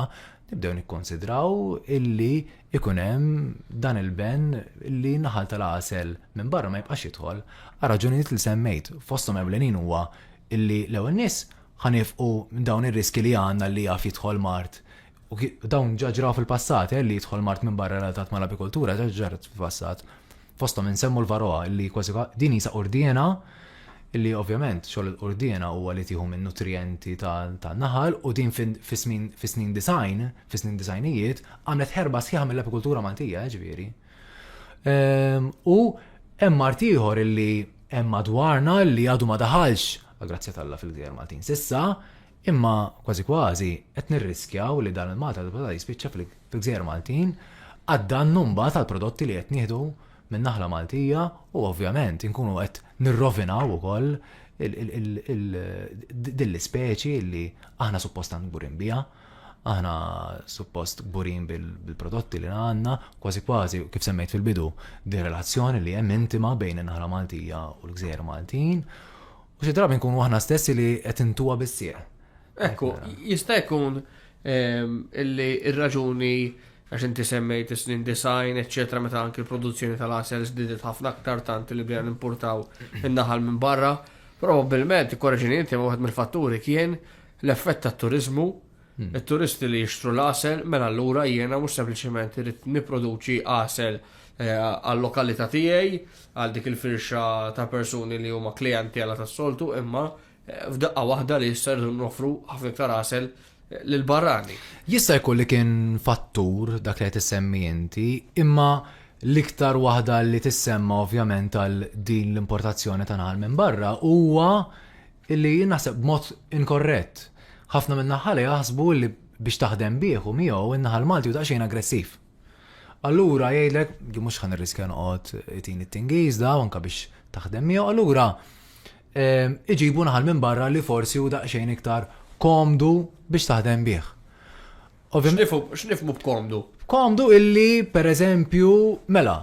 nibdew nikkunsidraw illi jkun hemm dan il-benn li n-naħal tal-għasel minn barra ma jibqax jidħol għal raġunijiet li semmejt. Fosthom ewlenin huwa illi l-ewwel nies ħa niefqu dawn ir-riskji li għandna li jaf jidħol mard U dawn ġaġraw fil-passat, eh, li jidħol mart minn barra relatat ma' l-apikoltura, ġaġrat fil-passat. Fostom insemmu l-varoa, li kważi din jisa urdjena, li ovvjament xogħol urdjena huwa li tieħu minn nutrienti ta' naħal u din fis-snin design, fis-snin designijiet, għamlet ħerba sħiħa mill-apikultura Maltija, eh, ġifieri. Ehm, u hemm mart ieħor illi hemm madwarna li għadu ma daħalx, grazzi tal-la fil-gżejjer Maltin sissa, Imma kważi kważi qed nirriskjaw li dan il-Malta ta' bla jispiċċa fil-gżejjer Maltin għad-dannu mbagħad għall-prodotti li qed nieħdu min-naħla Maltija u ovvjament inkunu qed nirrovinaw ukoll din l-ispeċi li aħna suppost tant kburin biha. Aħna suppost kburin bil-prodotti li għandna, kważi kważi kif semmejt fil-bidu, din relazzjoni li hemm intima bejn in-naħla Maltija u l-gżejjer Maltin U xi drabi nkunu aħna stessi li qed intuha bis-sieq. Ekku, jista' jkun ehm, illi ir-raġuni għax inti semmejt is-snin design, eċċetra meta anki l-produzzjoni tal-asel żdiedet ħafna aktar tant li bdejna nimpurtaw in-naħal minn barra, probabbilment korreġini inti wieħed mill-fatturi kien l-effett tat-turiżmu it-turisti li jixtru l-għasel, mela allura jiena mhux sempliċement irid nipproduċi għasel eh, għal-lokalità tiegħi, għal dik il-firxa ta' persuni li huma klijenti għala tas-soltu, imma eh, f'daqqa waħda li jisser nofru ħafna iktar għasel eh, l-barrani. Jista' jkun li kien fattur dak li qed issemmi inti, imma l-iktar waħda li tissemma ovvjament għal din l-importazzjoni ta' naħal minn barra huwa Illi jien naħseb b'mod inkorrett. Ħafna min-naħħala jaħsbu illi biex taħdem bih u miegħu, in-naħal Malti hu daqsxejn aggressiv. Allura jgħidlek, jien mhux ħa nirriskja noqgħod itini t-Tingiż daw anke biex taħdem miegħu, allura iġibu naħal minn barra li forsi hu daqsxejn iktar komdu biex taħdem bih. X'nifhmu b'komdu? Komdu illi, pereżempju, mela,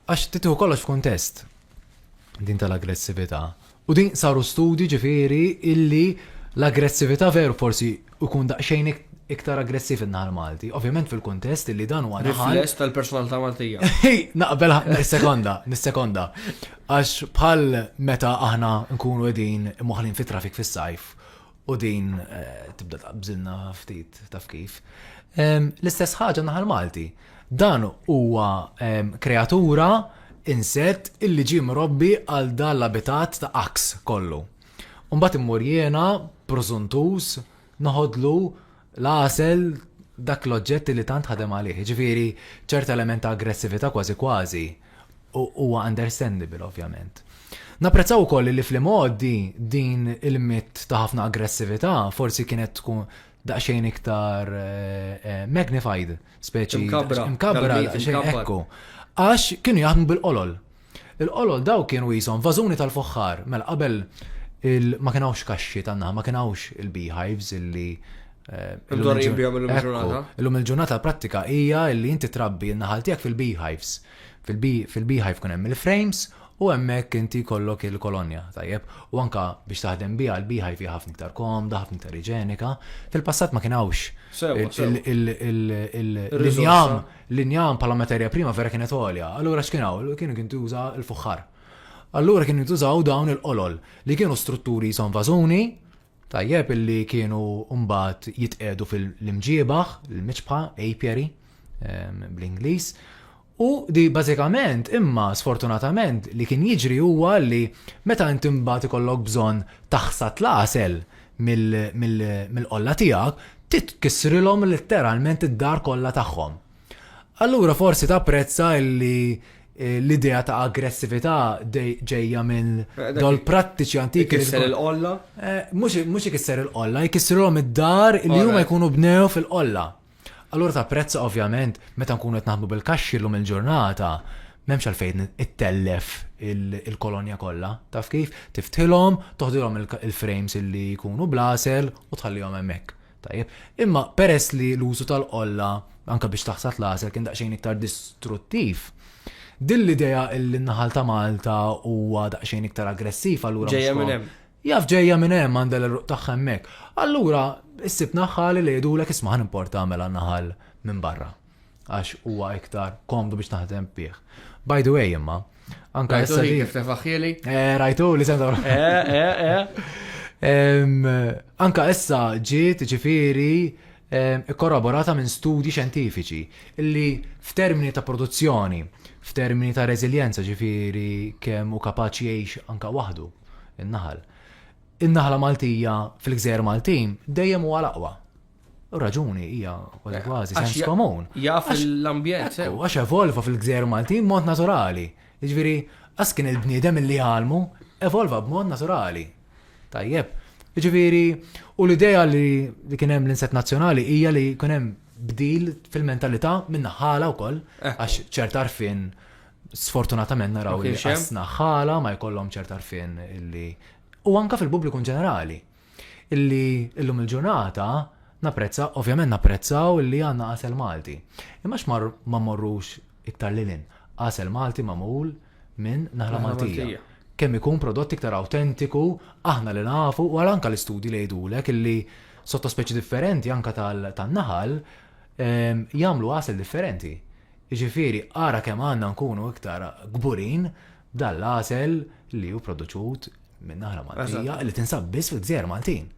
għax titieħu kollox f'kuntest din tal-aggressività. U din saru studji ġifieri illi l-aggressività veru forsi jkun daqsxejn iktar aggressiv in-naħal Malti. Ovvjament fil-kuntest illi dan huwa naħal. Rifless tal-personalità Maltija. Naqbel sekonda, nis-sekonda. Għax bħal meta aħna nkunu qegħdin moħlin fit-trafik fis-sajf u din tibda tqabżilna ftit taf kif. L-istess ħaġa naħal Malti. Dan huwa kreatura insett illi ġie mrobbi għal dan l-abitat ta' aks kollu. Umbat immur jiena, prożuntuż, noħodlu l-għasel, dak l-oġġett li tant ħadem għalih. Jiġifieri ċerta element ta' aggressività kważi kważi huwa understandable ovvjament. Napprezzaw ukoll li fl-imgħoddi din il-mitt ta' ħafna aggressività forsi kienet tkun daqsxejn iktar eh, eh, magnified, speċi mkabbra, mkabbra, xejn ekku. Għax kienu jaħdmu bil-qolol. Il-qolol dawk kienu qishom vażuni tal-fuħħar. Mela qabel ma kien hawnx kaxxi tan-naħal, ma kien hawnx il-beehives illi Imdorrijin bihom illum il-ġurnata. Illum il-ġurnata l-prattika hija li inti trabbi n-naħal tiegħek fil-beehives. Fil-beehive kun hemm il-frames u hemmhekk inti jkollok il-kolonja, tajjeb. U anka biex taħdem biha l-beehive hija ħafna iktar komda, ħafna iktar iġenika. Fil-passat ma kien hawnx il-injam L-injam bħala materja prima vera kienet għolja, allura x'kien hawn? Kien jintuża l-fuħħar. Allura kien jintużaw dawn il-qolol li kienu strutturi jisom vażuni, tajjeb, li kienu mbagħad jitqiegħdu fil-imġiebaħ, il-miċbħa, apiary ehm, bl-Ingliż. U di bażikament imma sfortunatament li kien jiġri huwa li meta inti mbagħad ikollok bżonn taħsad l-għasel, mill-qolla tiegħek, titkissrilhom letteralment id-dar kollha tagħhom. Allura forsi tapprezza li eh, l-idea ta' aggressività ġejja minn eh, dol prattiċi antiki. Ikisser il-qolla? Eh, mhux ikisser il-qolla, ikissrilhom id-dar li huma jkunu bnew fil-qolla. Allura tapprezza ovvjament meta nkunu qed naħdmu bil-kaxxi llum il-ġurnata m'hemmx għalfejn ittellef il-kolonja kollha, taf kif? Tiftħilhom, toħdilhom il-frames illi jkunu blasel u tħallihom hemmhekk. Tajjeb, imma peress li l-użu tal-qolla anke biex taħsad l-għasel kien daqsxejn iktar distruttiv, din l-idea illi n-naħal ta' Malta huwa daqsxejn iktar aggressiv allura ġejja minn hemm. Jaf ġejja minn hemm għandha l-għeruq tagħha hemmhekk. Allura issib naħħali li jgħidulek isma' ħa nimporta għamela naħal minn barra. Għax huwa iktar komdu biex naħdem bih. By the way imma, anka issa li kif tefaħħieli? Eh, rajtu li senta. Eh, eh, eh. Anka issa ġiet ġifieri ikkorroborata minn studji xjentifiċi, li f'termini ta' produzzjoni, f'termini ta' reżiljenza ġifieri kemm hu kapaċi jgħix anke waħdu in-naħal, in-naħla Maltija fil-gżejjer Maltin dejjem huwa l-aqwa. U raġuni hija kważi eh, kważi sens komun. Jaf l-ambjent. Eh. Għax evolva fil-gżejjer Maltin mod naturali. Jiġifieri, għas kien il-bniedem li għalmu evolva b'mod naturali. Tajjeb. Ġifieri, u l-idea li li kien hemm l-inset nazzjonali hija li kien hemm bdil fil-mentalità minn ħala wkoll Eh. għax ċert arfin sfortunatament naraw Ma li kienx hemm. qasna ħala ma jkollhom ċert arfin illi u anka fil-pubbliku in ġenerali illi illum il-ġurnata napprezza, ovvjament napprezzaw illi għandna għasel Malti. Imma għax mar- ma morrux iktar lil hinn. Għasel Malti magħmul minn naħla Maltija. Kemm ikun prodott iktar awtentiku, aħna li nafu u anke l-istudji li jgħidulek illi sottospeċi differenti anke tan-naħal ehm, jagħmlu għasel differenti. Jiġifieri ara kemm għandna nkunu iktar kburin dal-għasel li hu produċut minn naħla Maltija li tinsab biss fil-gżejjer Maltin.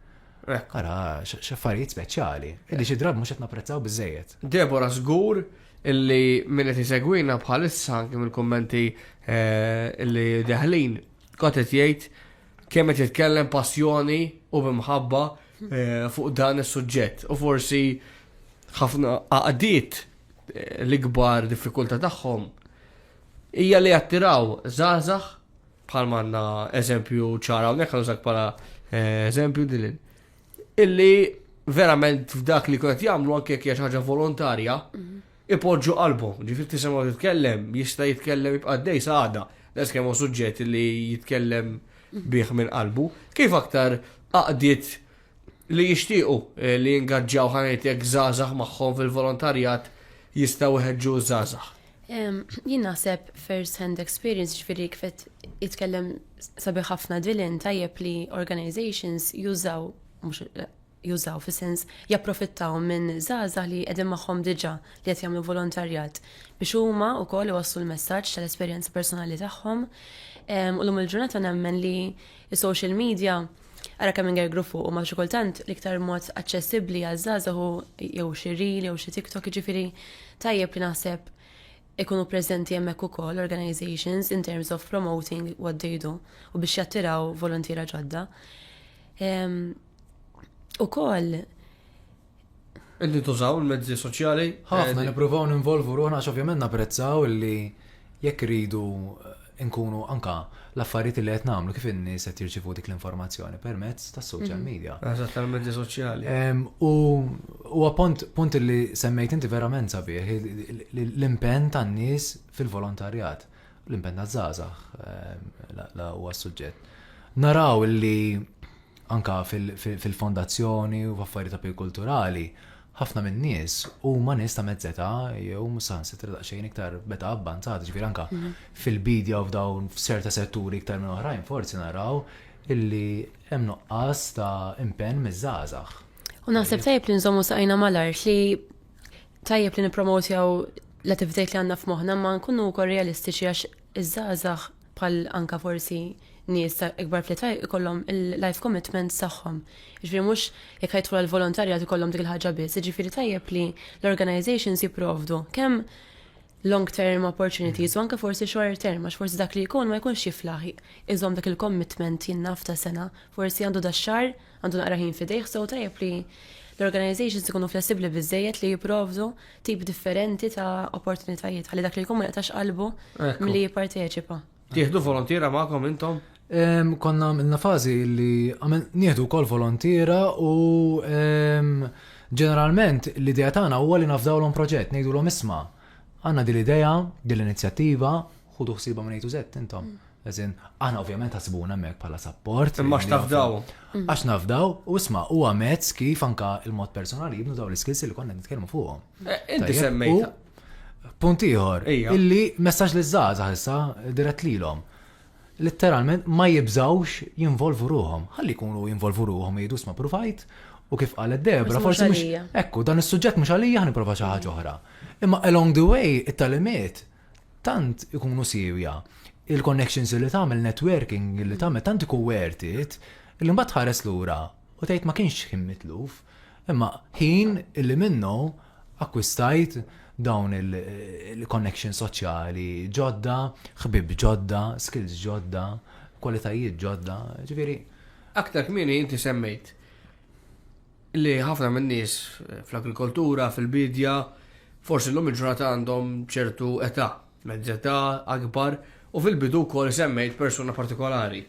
Ara, xaffarijiet speċjali, illi xi drabi mhux qed napprezzaw biżejjed. Debora żgur illi min qed isegwina bħalissa anke mill-kummenti eh, illi deħlin kont qed jgħid kemm qed jitkellem passjoni u bimħabba eh, fuq dan is-suġġett. U forsi ħafna għaqdiet eh, l-ikbar diffikultà tagħhom hija li jattiraw żgħażagħ bħal manna eżempju ċara hawnhekk għal bħala eżempju din illi verament f'dak li kont jagħmlu anke jekk hija ħaġa volontarja, mhm. ipoġġu qalbhom. Ġifier tisimgħu titkellem, jista' jitkellem jibqa' dej saħda, les kemm suġġett li jitkellem mhm. bih minn qalbu. Kif aktar aqdiet li jixtiequ eh, li jingaġġaw ħanajtek żgħażagħ magħhom fil-volontarjat jistgħu jħeġġu żgħażagħ. Jien naħseb first hand experience ġifieri kifet jitkellem sabi ħafna dilin tajjeb li organizations jużaw mhux jużaw fi sens japprofittaw minn żgħażagħ li qegħdin magħhom diġà li qed jagħmlu volontarjat biex huma wkoll iwasslu l-messaġġ tal-esperjenza personali tagħhom. U lum il-ġurnata nemmen li s-social media Ara kemm inger grupp fuq u ma xi kultant l-iktar mod aċċessibbli għaż-żgħażagħ hu jew xi reel jew xi TikTok jiġifieri tajjeb li naħseb ikunu preżenti hemmhekk ukoll organizations in terms of promoting what they do u biex jattiraw volontiera ġodda. Ukoll Qegħdin tużaw il-mezzi soċjali? Ħafna nippruvaw ninvolvu ruħna għax ovvjament napprezzaw li jekk iridu eh, nkunu anka l-affarijiet li qed nagħmlu kif in-nies qed jirċivu dik l-informazzjoni permezz tas-social mhm. media. Eżatt tal-mezzi soċjali. U huwa punt li semmejt inti verament sabiħ l-impenn tan-nies fil-volontarjat. L-impenn żgħażagħ la huwa suġġett. Naraw li anka fil-fondazzjoni u f'affarijiet ta' kulturali, ħafna minn nies huma nies ta' mezzeta jew saħansitra daqsxejn iktar beta abbanzat, ġifier anka mhm. fil-bidja u f'dawn f'serta setturi iktar minn oħrajn forsi naraw illi hemm nuqqas ta' impenn miż-żgħażagħ. U naħseb tajb li nżommu saqajna mal-art li Tajjeb li nippromotjaw l-attivitajt li għandna f'moħħna ma nkunu wkoll realistiċi għax iż-żgħażagħ bħal anka forsi nies ta' ikbar fl-età ikollhom il-life commitments tagħhom. Jiġifieri mhux jekk ħajtħu għal volontarjat ikollhom dik il-ħaġa biss, jiġifieri tajjeb li l-organizations jipprovdu kemm long term opportunities u anke forsi short term għax forsi dak li jkun ma jkunx jiflaħ iżom dak il-commitment jinnaf ta' sena, forsi għandu da' xar għandu naqra ħin fidejh sew tajjeb li l-organizations ikunu flessibli biżejjed li jipprovdu tip differenti ta' opportunitajiet għalli dak li jkun ma jaqtax qalbu milli jipparteċipa. Tieħdu volontiera magħkom intom? Konna għamilna fażi li nieħdu wkoll volontiera u ġeneralment l-idea tagħna huwa li nafdawlhom proġett, ngħidulhom isma' għandna din l-idea, din l-inizjattiva, Ħudu ħsiba minn A to Z intom. Mm. Eżin, aħna ovvjament ħasibuna mek pala support. Imma x'tafdaw. Mm. Għax nafdaw, u isma, u għamezz kif anka il-mod personali jibnu daw l-skills li konna nitkellmu fuqhom. Eh, inti semmejta. Punt ieħor, illi messaġġ li żgħażagħ issa dirett lilhom. Litteralment ma jibżawx jinvolvu ruhom. Ħalli jkunu jinvolvu ruhom jgħidu sma provajt u kif qalet Debra forsi mhux. Ekku, dan is-suġġett mhux għalija ħniprofa xi ħaġa oħra. Imma along the way it-talimiet tant ikunu siewja il-connections li tagħmel networking li tagħmel tant ikun worth it li mbagħad tħares lura u tgħid ma kienx ħin mitluf imma ħin li minnu akkwistajt dawn il-connections soċjali ġodda, ħbieb ġodda, skills ġodda, kwalitajiet ġodda, ġifieri. Aktar kmieni inti semmejt li ħafna min-nies fl-agrikoltura, fil-biedja, forsi llum il-ġurnata għandhom ċertu età, mezz'età, akbar, u fil-bidu wkoll semmejt persuna partikolari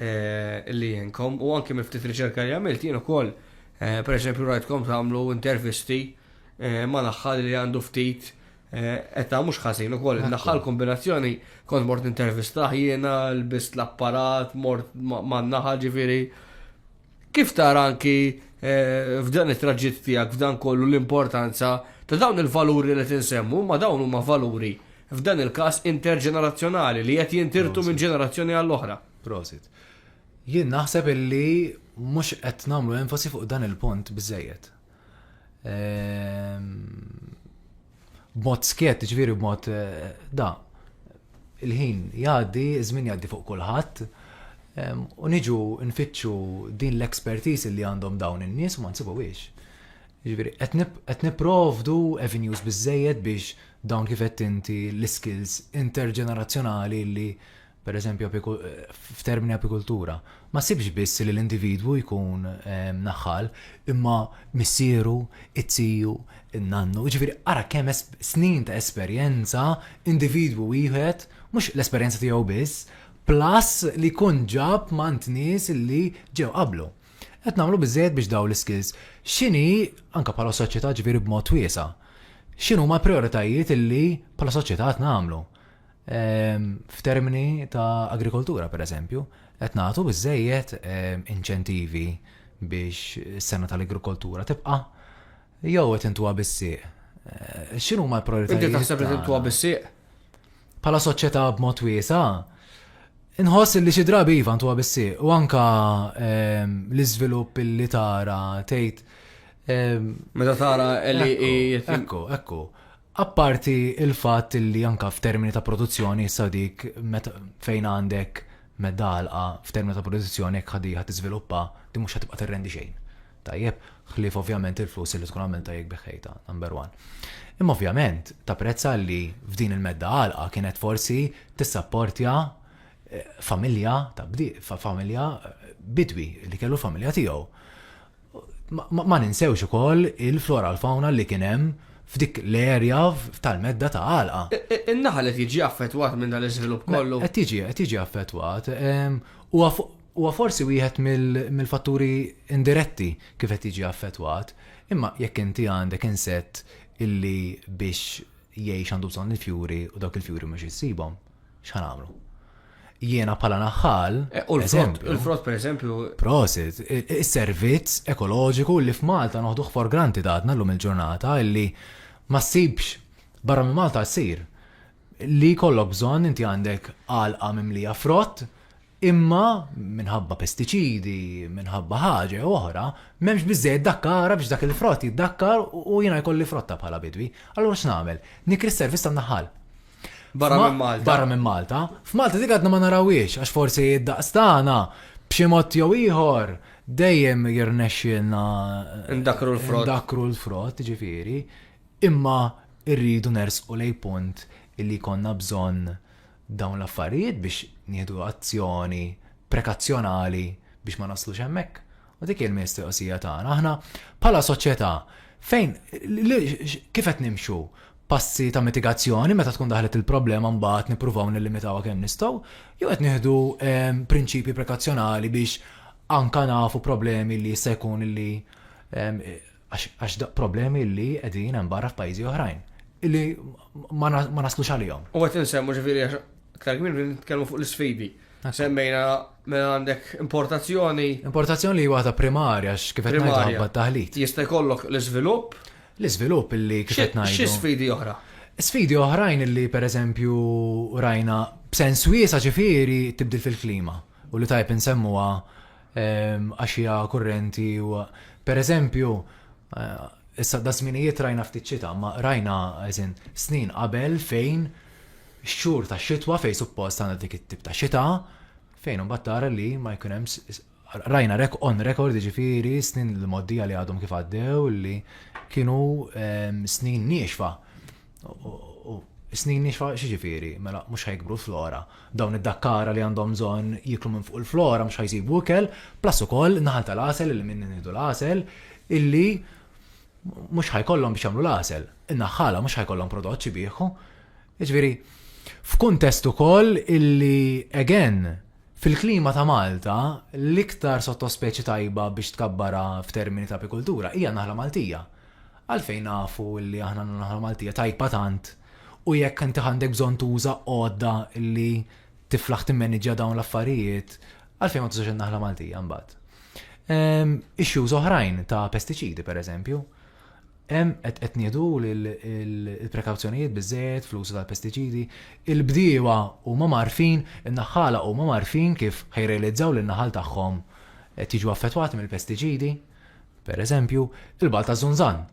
li għenkom u anke minn ftit riċerka li għamilt jien ukoll pereżempju rajtkom tagħmlu intervisti ma' naħħal li għandu ftit età mhux ħażin ukoll naħħal kombinazzjoni kont mort intervistah jiena lbist l-apparat mort man-naħa ġifieri Kif tara anki f'dan it-traġitt tiegħek f'dan kollu l-importanza ta' dawn il-valuri li tinsemmu, ma dawn huma valuri f'dan il-każ interġenerazzjonali li qed jintirtu minn ġenerazzjoni għall-oħra. Prosit. Jien naħseb illi mhux qed nagħmlu enfasi fuq dan il-punt biżejjed. Ehm, b'mod skjett, ġifieri b'mod da. Il-ħin jgħaddi, iż-żmien jgħaddi fuq kulħadd, u niġu nfittxu din l-expertise li għandhom dawn in-nies u ma nsibuhiex. Ġifieri qed nipprovdu avenues biżejjed biex dawn kif qed inti l-iskills interġenerazzjonali li per eżempju f'termini apikultura, ma ssibx biss li l-individwu jkun ehm, naħħal, imma missieru, it-tiju, nannu, ġifiri ara kemm snin ta' esperjenza individwu wieħed, mhux l-esperjenza tiegħu biss, plus li kun ġab mant nies li ġew qablu. Qed nagħmlu biżejjed biex daw l-skills. X'inhi anke bħala soċjetà ġifieri b'mod wiesa' x'inhu ma' prioritajiet illi bħala soċjetà qed nagħmlu. Ehm, f'termini ta' agrikoltura, per eżempju, qed nagħtu biżejjed ehm, inċentivi biex is-sena tal-agrikoltura tibqa' jew qed intuha bis-sieq. Eh, x'inhu ma l-prioritajiet? Inti taħseb li tintuha bis-sieq? Bħala soċjetà b'mod wiesa, inħoss li xi drabi iva ntuha bis-sieq u anka ehm, l-iżvilupp li tara tgħid Meta tara li Ekku, ekku. Apparti l-fatt li anke f'termini ta' produzzjoni issa dik fejn għandek medda għalqa f'termini ta' produzzjoni jekk ħadija ħadd tiżviluppa din mhux ħatibqa' tirrendi xejn. Tajjeb? Ħlief ovvjament il-flus li tkun għamiltha jekk biħħejtha, number one. Imma ovvjament tapprezza li f'din il-medda għalqa kienet forsi tissapportja familja ta' bdiewa, familja bidwi li kellu l-familja tiegħu. Ma ninsewx ukoll il-flora u l-fawna li kien hemm f'dik l-erja tal-medda ta' Għalqa. In-naħal qed jiġi affettwat minn dan l-iżvilupp kollu? Qed jiġi, qed jiġi affettwat. Huwa forsi wieħed mill-fatturi indiretti kif qed jiġi affettwat, imma jekk inti għandek insett illi biex jgħix għandu bżonn il-fjuri u dawk il-fjuri mhux issibhom. X'ħa nagħmlu? Jiena bħala naħħal. Eh, u l-frott, per eżempju. Prosit, is-servizz ekoloġiku li f'Malta noħduh for granted għadna l-lum il-ġurnata illi ma ssibx barra minn Malta ssir li kollok bżonn inti għandek għalqa mimlija frott Imma, minħabba pestiċidi, minħabba ħaġa jew oħra, m'hemmx biżżejjed dakkara biex dak il-frott jiddakkar u jiena jkolli frotta bħala bidwi. Allura x'nagħmel? Nikri s-servizz tan-naħal. Barra minn Malta. Barra minn Malta. F'Malta dik għadna ma narawhiex għax forsi d-daqs tagħna b'xi mod jew ieħor dejjem jirnexxielna Ndakru l-frott. Ndakru l-frott, ġifieri, imma rridu nersqu lej punt illi konna bżonn dawn l-affarijiet biex nieħdu azzjoni prekazzjonali biex ma naslux hemmhekk. U dik hi l-mistoqsija tagħna. Aħna bħala soċjetà fejn kif qed nimxu passi ta' mitigazzjoni meta tkun daħlet il-problema mbagħad nippruvaw nillimitawha kemm nistgħu, jew qed nieħdu ehm, prinċipji prekazzjonali biex anka nafu problemi li jista' jkun li ehm, Għax daqq problemi li qegħdin hemm barra f'pajjiżi oħrajn li ma naslux għalihom. U qed insemmu ġifieri għax aktar kmin nitkellmu fuq l-isfidi. Semmejna mela għandek importazzjoni. Importazzjoni li waħda primarja x'kif qed ngħidu taħlit. Jista' jkollok l-iżvilupp. L-iżvilupp li kif qed ngħidu. Xi sfidi oħra? Sfidi oħrajn li pereżempju rajna b'sens wiesa' ġifieri tibdil fil-klima u li tajb insemmuha għaxija kurrenti u pereżempju issa da żminijiet rajna ftit xita, ma rajna eżin snin qabel fejn xhur ta' xitwa fejn suppost għandha dik it-tip ta' xita fejn imbagħad tara li ma jkun hemm rajna rek on record ġifieri snin l-moddija li għadhom kif għaddew li kienu snin niexfa. Snin nixfa xiġifieri, mela mhux ħajkbru flora. Dawn id-dakkara li għandhom bżonn jiklu minn fuq il-flora mhux ħajsibu ikel, plus ukoll naħal tal-għasel li minn nidu l-għasel illi mhux ħajkollhom biex jagħmlu l-għasel. In-naħħala mhux ħajkollhom prodott xi bieħu. Jiġifieri, f'kuntest ukoll illi again fil-klima ta' Malta l-iktar sottospeċi tajba biex tkabbarha f'termini ta' apikultura hija n-naħla Maltija. Għalfejn nafu li aħna għandna naħa Maltija tajba tant u jekk inti għandek bżonn tuża għodda li tiflaħ timmaniġġja dawn l-affarijiet, għalfejn ma tużax in-naħla Maltija mbagħad? Ehm, issues oħrajn ta' pestiċidi pereżempju. Hemm qed nieħdu l-prekawzjonijiet biżejjed fl-użu tal-pestiċidi, il-bdiewa huma marfin, in-naħħala huma marfin kif ħejrealizzaw lin-naħal tagħhom qed jiġu affettwati mill-pestiċidi. Per eżempju, il-Bal ta' Zunzan.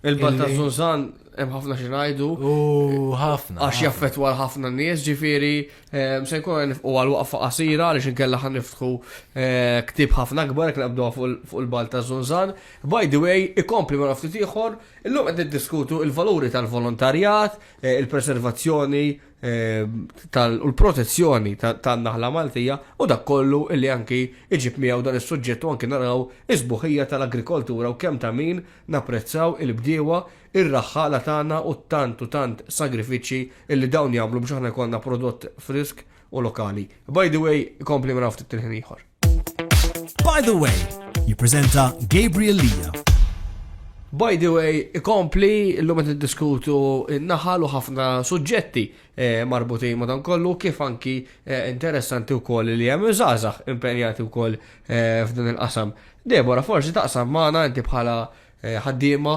Il-Bal ta' Zunzan hemm ħafna xi ngħidu. U ħafna. Għax jaffettwa ħafna nies, ġifieri ehm, se nkun nifqu għal waqfa qasira għaliex inkella ħan niftħu eh, ktib ħafna akbar jekk naqbdu fuq il-bal ta' Zunzan. By the way, ikompli ma ftit ieħor, illum qed niddiskutu il-valuri tal-volontarjat, eh, il-preservazzjoni u l-protezzjoni tan-naħla Maltija u dak kollu li anki iġib miegħu dan is-suġġett u anki naraw is-sbuħija tal-agrikoltura u kemm ta' min napprezzaw il-bdiewa, ir-raħħala tagħna u t-tant u tant sagrifiċċji li dawn jagħmlu biex aħna jkollna prodott frisk u lokali. By the way, ikompli minn hawn ftit il-ħin ieħor. By the way, jippreżenta Gabriel Lija. By the way, ikompli l-lum qed diskutu naħal u ħafna suġġetti eh, marbutin ma' dan kollu kif anki eh, interessanti wkoll li hemm żgħażagħ impenjati wkoll eh, f'dan il-qasam. Debora, forsi taqsam magħna inti bħala ħaddiema,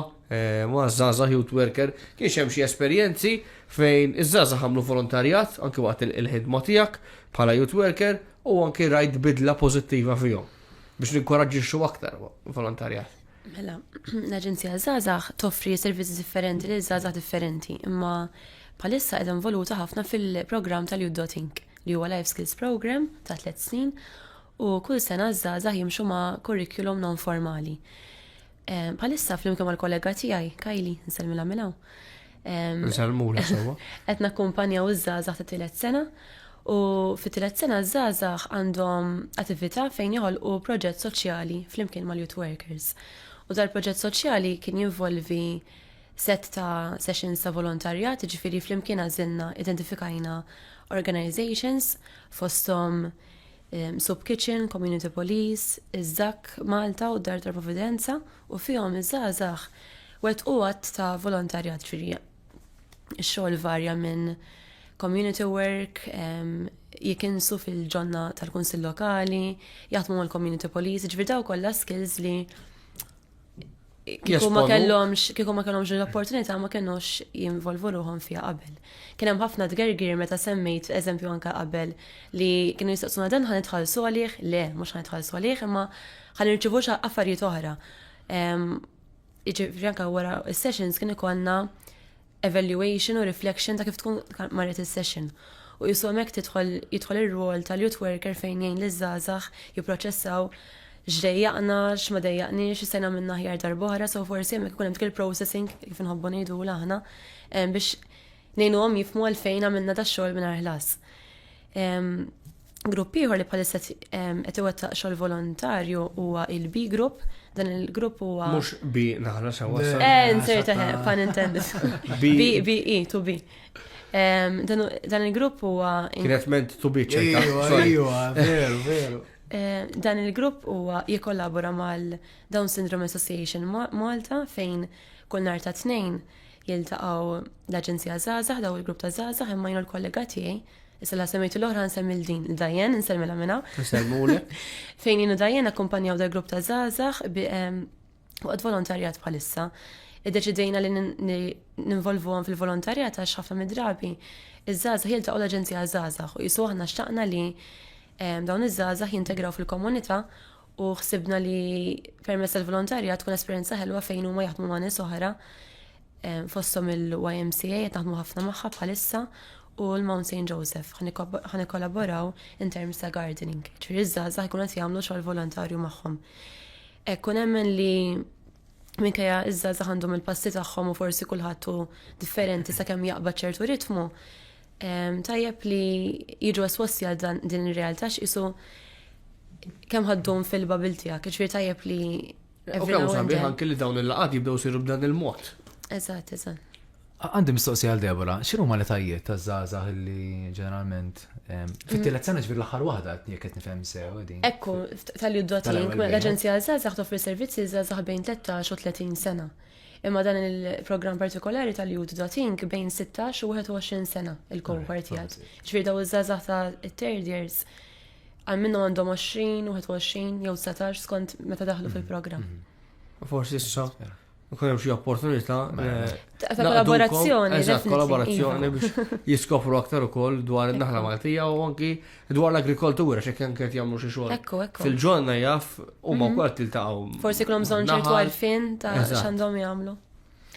ma' żgħażagħ youth worker, kienx hemm xi esperjenzi fejn iż-żgħażagħ għamlu volontarjat anki waqt il-ħidma tiegħek bħala youth worker u anki rajt bidla pożittiva fihom biex ninkoraġġixxu aktar volontarjat. Mela, l-Aġenzija Żgħażagħ toffri servizzi differenti lil żgħażagħ differenti, imma bħalissa qed involuta ħafna fil-programm tal-Youth Inc. li huwa Life Skills Program ta' tliet snin u kull sena ż-żgħażagħ jimxu ma' kurrikulum non formali. Bħalissa flimkien mal-kollega tiegħi, Kajli, nsellmilha minn hawn. Nsellmula sewwa. Qed nakkumpanjaw iż-żgħażagħ ta' tielet sena u fit-tielet sena ż-żgħażagħ għandhom attività fejn joħolqu proġett soċjali flimkien mal-youth workers. U dal-proġett soċjali kien jinvolvi set ta' sessions ta' volontarjat, ġifiri flimkien għażilna identifikajna organizations fosthom Soup Kitchen, Community Police, iż-Żakk Malta u d-Dar tal-Providenza u fihom iż-żgħażagħ wettqu għadd ta' volontarjat ġifieri x-xogħol varja minn community work, jikinsu fil-ġonna tal-kunsill lokali, jaħdmu mal-community police, ġifieri daw kollha skills li Kieku ma kellhomx, kieku ma kellhomx l-opportunità ma kellhomx jinvolvu ruħhom fiha qabel. Kien hemm ħafna tgergir meta semmejt eżempju anke qabel li kienu jistaqsuna dan ħan itħallsu għalih, le, mhux ħan itħallsu għalih, imma ħan irċivu affarijiet oħra. Iġifieri anke wara s-sessions kien ikollna evaluation u reflection ta' kif tkun marret is-session. U jisu hemmhekk tidħol jidħol ir-rwol tal-youth worker fejn jgħin liż-żgħażagħ jipproċessaw x'dejjaqna, x'ma dejjaqniex, x'sejna minna ħjar darb'oħra, so forsi hemmhekk ikun hemm dik il-processing kif inħobbu ngħidu aħna biex ngħinuhom jifmu għalfejn għamilna da xogħol mingħajr ħlas. Grupp ieħor li bħalissa qed iwettaq xogħol volontarju huwa il-B Group. Dan il-grupp huwa. Mhux B naħla sewwa. Eh, insert pan intended. B E to B. Dan il-grupp huwa. Kienet ment to B ċerta. Veru, veru. Dan il-grupp huwa jikollabora mal-Down Syndrome Association Malta fejn kull nar ta' tnejn jiltaqgħu l-Aġenzija Zaza, daw il-grupp ta' Zaza, imma jnu l-kollega tiegħi Issa la semmejtu l-oħra nsemmi l-din, l-dajjen, nsemmi la minna. Nselmule. Fejn jenu dajjen akkumpanjaw da grupp ta' zazax bi għad volontarjat bħalissa. Id-deċidejna li ninvolvu għan fil-volontarjat għax ħafna mid-drabi. Iż-żazax jilta' u l-agenzija zazax u jisu għahna xtaqna li dawn iż-żazax jintegraw fil-komunita u xsibna li permessa l-volontarjat tkun esperienza ħelwa fejn huma jaħdmu ma' nies oħra fosthom il-YMCA qed naħdmu ħafna magħha bħalissa u l-Mount St. Joseph ħa nikkollaboraw in terms ta' gardening. Ġifieri ż-żgħażagħ ikun qed jagħmlu xogħol volontarju magħhom. Hekk nemmen li minkejja iż-żgħażagħ għandhom il-passi tagħhom u forsi kulħadd hu differenti sakemm jaqbad ċertu ritmu, tajjeb li jiġu esposti għal din ir-realtà x'isu kemm ħaddum fil-babil tiegħek, ġifieri tajjeb li U kemm sabiħ anke li dawn il-laqgħat jibdew siru b'dan il-mod. Eżatt, eżatt. Għandi mistoqsi għal Debora, xinu ma li tajjiet ta' zaza li ġeneralment. Fit-tielet sena ġvir l-axar wahda jek qed nifhem sew din. Ekku, tal-li d-dotin, l-Aġenzija Zaza toffri servizzi zaza bejn 13 u 30 sena. Imma dan il-programm partikolari tal jud dotin bejn 16 u 21 sena il-cohort jgħad. Ġvir daw iż-żazax ta' third years Għal minnu għandhom 20, 21 jew 19 skont meta daħlu fil-programm. Mhm. Forsi issa nkun hemm xi opportunità mela, eh, ta' kollaborazzjoni. Eżatt, kollaborazzjoni biex jiskopru aktar ukoll dwar in-naħla Maltija u anki dwar l-agrikoltura xi kemm qed jagħmlu xi xogħol. Fil-ġonna jaf huma mhm. wkoll tiltaqgħu. Forsi kellhom bżonn ċertu għarfien ta' x'għandhom jagħmlu.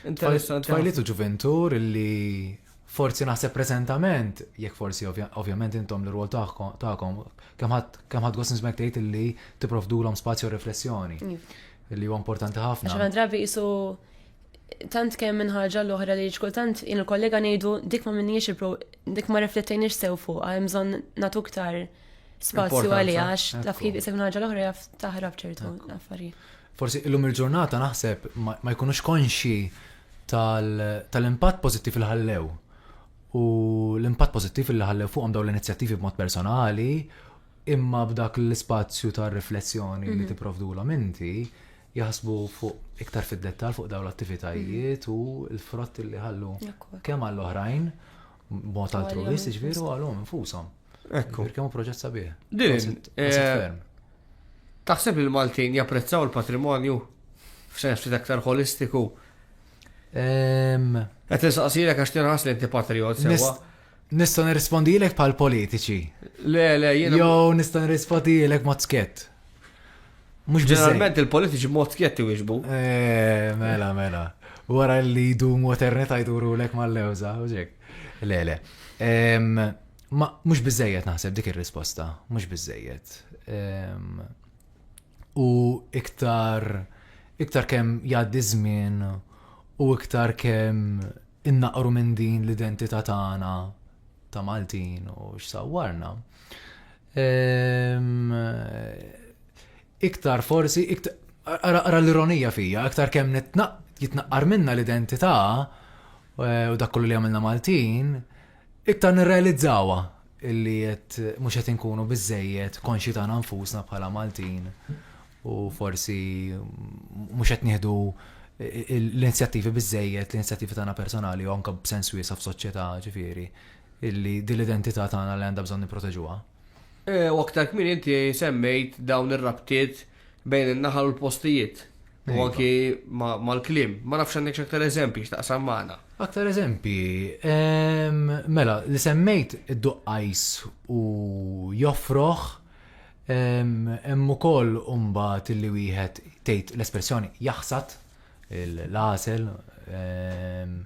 Interessanti. Twajliet u ġuventur li Forsi naħseb preżentament, jekk forsi ovvjament intom l-rwol tagħkom, kemm ħadd gost nismek tgħid illi tipprovdulhom spazju riflessjoni. Illi huwa importanti ħafna. Għax drabi qisu tant kemm minn ħaġa l-oħra li kultant jien il-kollega ngħidu dik ma minniex il-pro dik ma riflettejniex sew fuq, hemm bżonn nagħtu iktar spazju għalija għax taf kif isek ħaġa l-oħra jaf taħrab ċertu affarijiet. Forsi illum il-ġurnata naħseb ma jkunux konxi tal-impatt pożittiv li ħallew u l-impatt pożittiv li ħallew fuqhom dawn l-inizjattivi b'mod personali imma b'dak l-ispazju ta' riflessjoni li mhm. tipprovdulhom inti jaħsbu fuq iktar fid-dettal fuq dawn l-attivitajiet mhm. u l-frott li ħallu kemm għall-oħrajn Mod altruwist, ġviru għalhom infushom. Ekku. Kemm proġett sabiħ. Din. Eh, taħseb li l-Maltin japprezzaw il-patrimonju f'sens ftit aktar holistiku. Qed insaqsilek għax tinħas li inti patriot sewa. Nista' nirrispondilek bħal politiċi. Le, le, jiena. Jew nista' nirrispondilek mod skett. Mux Ġeneralment il-politiċi mod skjett iwieġbu. Eh, mela, mela. Wara li jdumu eternita jduru lek mal-lewza, uġek. Le, le. Ma mux bizzejiet naħseb dik il-risposta, mux bizzejiet. U iktar, iktar kem jaddi żmien u iktar kem innaqru minn din l-identità tagħna ta' Maltin u x'sawwarna. Ehm, iktar forsi, iktar, ara l-ironija fija, iktar kemm nitnaq, jitnaqqar minna l-identità eh, u dak kollu li għamilna Maltin, iktar nirrealizzawa illi jett mux jett nkunu bizzejiet konxi ta' nfusna bħala Maltin u forsi mux jett nieħdu eh, l-inizjattivi bizzejiet, l-inizjattivi tagħna personali u anka b'sens wiesa f'soċjetà ġifieri illi din l-identità tagħna li għandha bżonn nipproteġuha. U aktar kmin inti semmejt dawn ir-rabtiet bejn in-naħal u l-postijiet. U iva. anki mal-klim. Ma nafx għandek x'aktar eżempji x'taqsam magħna. Aktar eżempji, ehm, mela, li semmejt id-duqqajs u joffroħ, ehm, hemm ukoll imbagħad li wieħed tgħid l-espressjoni jaħsad l-għasel, ehm,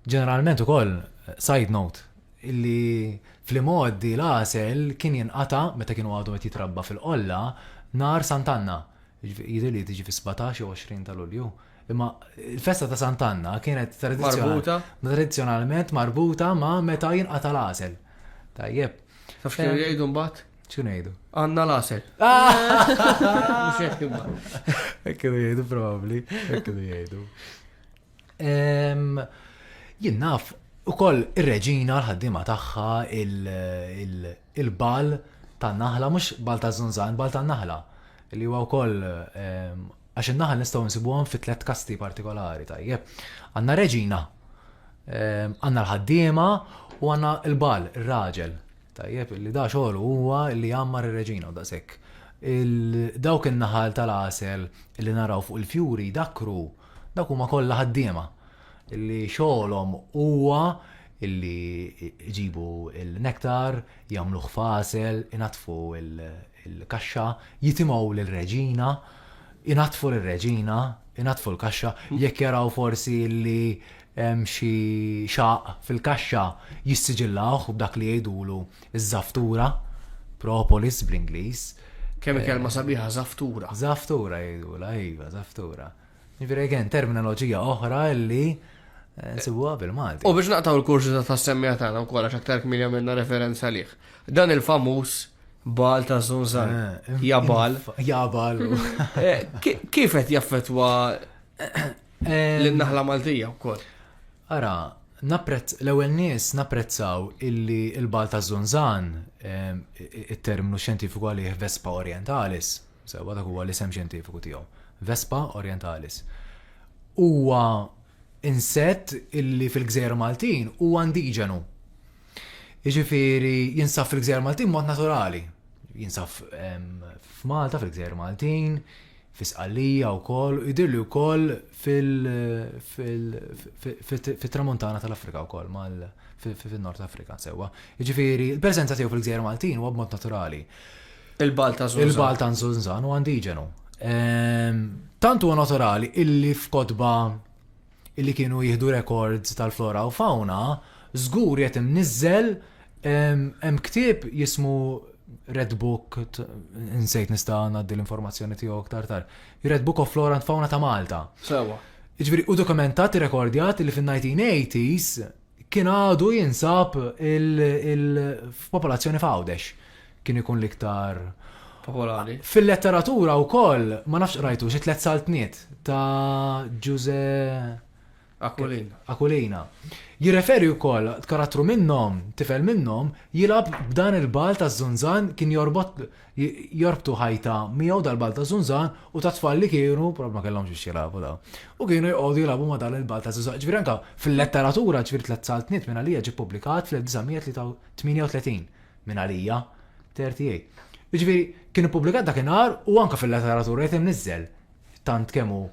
Ġeneralment ukoll, side note, li fl-imgħoddi l-għasel kien jinqata' meta kienu għadu qed jitrabba fil-qolla nhar Sant'Anna, jidhirli li tiġi fis-sbatax jew għoxrin ta' Lulju. Imma l-festa ta' Sant'Anna kienet tradizzjonalment marbuta ma' meta jinqata' l-għasel. Tajjeb. Taf x'kienu jgħidu mbagħad? X'kienu jgħidu? Għandna l-għasel. Mhux hekk imma. Hekk kienu jgħidu probabbli, hekk kienu jgħidu. Jien naf ukoll ir-reġina l-ħaddiema tagħha il-bal tan-naħla mhux bal ta' żunżan, bal tan-naħla li huwa wkoll għax in-naħal nistgħu nsibuhom fi tliet kasti partikolari tajjeb. Għandna reġina, għandna l-ħaddiema u għandna l-bal, ir-raġel. Tajjeb, li da xogħol huwa li jgħammar ir-reġina u daqshekk. Dawk in-naħal tal-għasel li naraw fuq il-fjuri dakru Dawk huma kollha ħaddiema li xogħolhom huwa li jġibu l-nektar, jagħmluh f'għasel, inaddfu l-kaxxa, jitimgħu lir-reġina, inaddfu lir-reġina, inaddfu l-kaxxa, jekk jaraw forsi li hemm xi xaqq fil-kaxxa jissiġillawh b'dak li jgħidulu ż-żaftura, propolis bl-Ingliż. Kemm hi kelma sabiħa żaftura. Żaftura jgħidulha, iva, żaftura. Jiġifieri again, terminoloġija oħra li nsibuha bil-Malti. U biex naqtgħu l-kurżità tas-semmiegħa tagħna wkoll għax aktar kmieni għamilna referenza għalih. Dan il-famuż Baal ta' Żunżan, Jabal. Jabal. Kif qed jaffettwa L-naħla Maltija wkoll. Ara, napprezz l-ewwel nies napprezzaw illi l-bal ta' Zunzan it-terminu xjentifiku għalih Vespa Orientalis, sewa dak huwa l-isem xjentifiku tiegħu. Vespa Orientalis. Huwa insett illi fil-gżejjer Maltin huwa indiġenu. Jiġifieri jinsab fil-gżejjer Maltin mod naturali. Jinsab f'Malta fil-gżejjer Maltin, fi Sqallija wkoll u jidhirli wkoll fit-Tramuntana tal-Afrika wkoll mal fin-Nord Afrika sewwa. Jiġifieri l-preżenza tiegħu fil-gżejjer Maltin huwa b'mod naturali. Il-Balt ta' Zunzan. Il-Balt ta' Zunzan huwa indiġenu. Ehm, tant huwa naturali illi f'kotba li kienu jieħdu rekords tal-flora u fawna, żgur qed imniżżel hemm ktieb jismu Red Book, insejt nista' ngħaddi l-informazzjoni tiegħu aktar tar. Red Book of Flora and Fauna ta' Malta. Sewa. Ġifieri u dokumentat rekordjat li fin-1980s kien għadu jinsab f'popolazzjoni f'Għawdex kien ikun l-iktar popolari. Fil-letteratura wkoll ma nafx qrajtu xi tliet saltniet ta' Ġuże Akulina. Akulina. Jirreferi wkoll karattru minnhom, tifel minnhom, jilab b'dan il-bal ta' Zunzan kien jorbot jorbtu ħajta miegħu dal-ball ta' żunżan u ta' tfal li kienu, prob ma kellhomx biex jilagħbu daw. U kienu jqogħdu jilagħbu ma' dan il-ball ta' żunżan. Ġifieri anke fil-letteratura ġifieri tliet saltniet minn għalija ġie ppubblikat fl-1938 minn għalija 38. Ġifieri kien ippubblikat dakinhar u anke fil-letteratura qed imniżżel tant kemm hu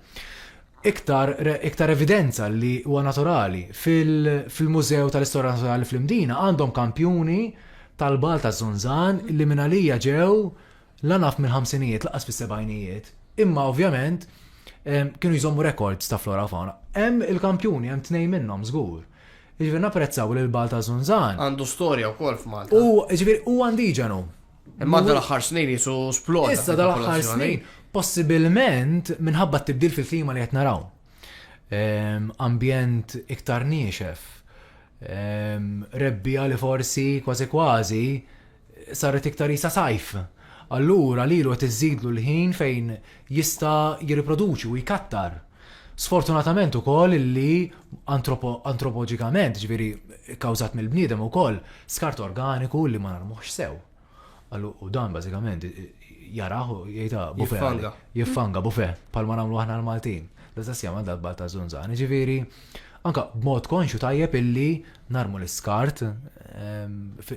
iktar, iktar evidenza li huwa naturali fil-Mużew tal-Istorja Naturali fl-Imdina għandhom kampjuni tal-bal ta' Zunzan li minn għalija ġew la naf mill-ħamsinijiet laqas fis-sebajnijiet. Imma ovvjament kienu jżommu rekords ta' flora fauna. Hemm il-kampjuni, hemm tnej minnhom żgur. Ġifieri napprezzaw li l-bal ta' Zunzan. Għandu storja wkoll f'Malta. U ġifieri u għandiġanu. Imma dal-aħħar snin jisu sploda. Issa dal-aħħar snin, possibilment minħabba tibdil fil-klima li qed naraw. Ehm, ambjent iktar niexef. Ehm, rebbija li forsi kważi kważi saret iktar jisa sajf. Allura li l iżidlu l-ħin fejn jista' jirriproduċi u jkattar. Sfortunatament ukoll illi antropoġikament, jiġifieri kkawżat mill-bniedem ukoll, skart organiku illi ma narmuhx sew. U dan bażikament jarah u jgħidha bufe. Jiffanga. Jiffanga bufe, bħalma nagħmlu aħna l-Maltin. L-istess jagħmel dal-balt ta' żunżan. Jiġifieri, anke b'mod konxju tajjeb illi narmu l-iskart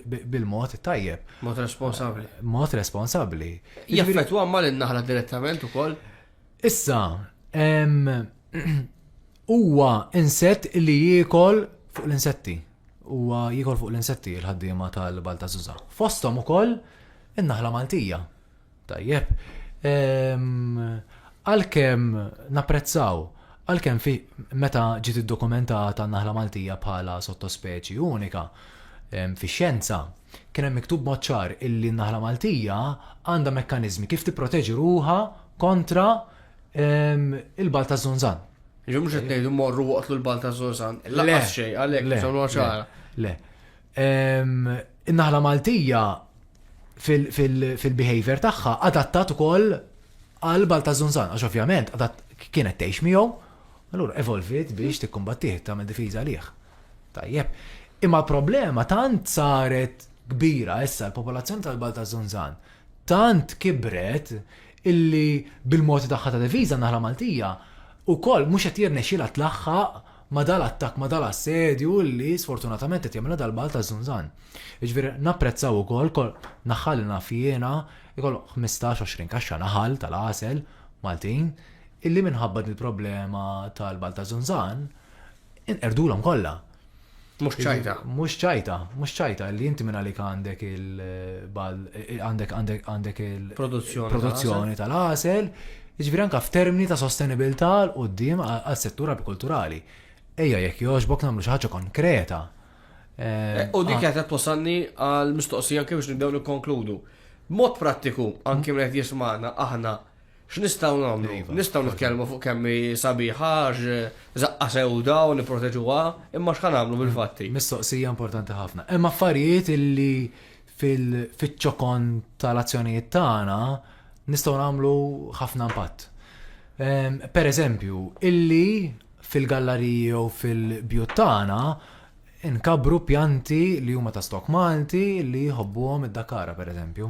bil-mod tajjeb. Mod responsabli. Mod responsabli. Jaffetu għamma l-naħla direttament u koll? Issa, huwa insett li jiekol fuq l-insetti. Huwa jiekol fuq l-insetti l-ħaddiema tal-Balta Zuza. Fostom ukoll in-naħla Maltija. Tajjeb. Ehm, għalkemm napprezzaw, għalkemm fi meta ġiet iddokumentata n-naħla Maltija bħala sottospeċi unika ehm, fi xjenza, kien hemm miktub moċċar illi n-naħla Maltija għandha mekkaniżmi kif tipproteġi ruha kontra ehm, il-bal ta' zonzan. Ġi mhux qed ngħidu morru waqtlu l-bal ta' zonzan. Le, xejn għalhekk le, le. In-naħla Maltija fil-behavior tagħha adattat ukoll għal bal ta' zunzan, għax ovvjament kienet tgħix miegħu, allura evolvit biex mhm. tikkumbattih tagħmel difiża liħ. Tajjeb, imma problema tant saret kbira issa l-popolazzjoni tal-bal ta' zunzan tant kibret illi bil-mod tagħha ta' difiża naħla Maltija u koll mhux qed jirnexxilha tlaħħaq ma' dal-attakk, ma' dal-assedju li sfortunatament qed jagħmilha dal-Balt taż-Żunżan. Jiġifieri napprezzaw ukoll naħħal li naf jiena jkollu 15-20 kaxxa naħal tal-għasel Maltin illi minħabba dil-problema tal-Balt taż-Żunżan inqerdulhom kollha. Mhux ċajta. Mhux ċajta, mhux ċajta li inti minn għalik għandek il-bal, għandek għandek għandek il-produzzjoni tal-għasel, jiġifieri anke f'termini ta' sostenibilità l qudiem għas-settur apikulturali. Ejja jekk jogħġbok nagħmlu xi ħaġa konkreta. Eh, u dik qed twassalni għal mistoqsija anke biex nibdew nikkonkludu. Mod prattiku, anke minn qed jismagħna aħna X'nistgħu nagħmlu? Iva, nistgħu nitkellmu fuq kemm hi sabiħa għax żaqqa sewda u nipproteġuha, imma x'ħa nagħmlu bil-fatti? Mistoqsija importanti ħafna. Hemm affarijiet illi fiċ-ċokon tal-azzjonijiet tagħna nistgħu nagħmlu ħafna impatt. Ehm, per eżempju, illi fil-gallariji jew fil-bjut tagħna nkabru pjanti li huma ta' stok Malti li jħobbuhom id-Dakara per eżempju.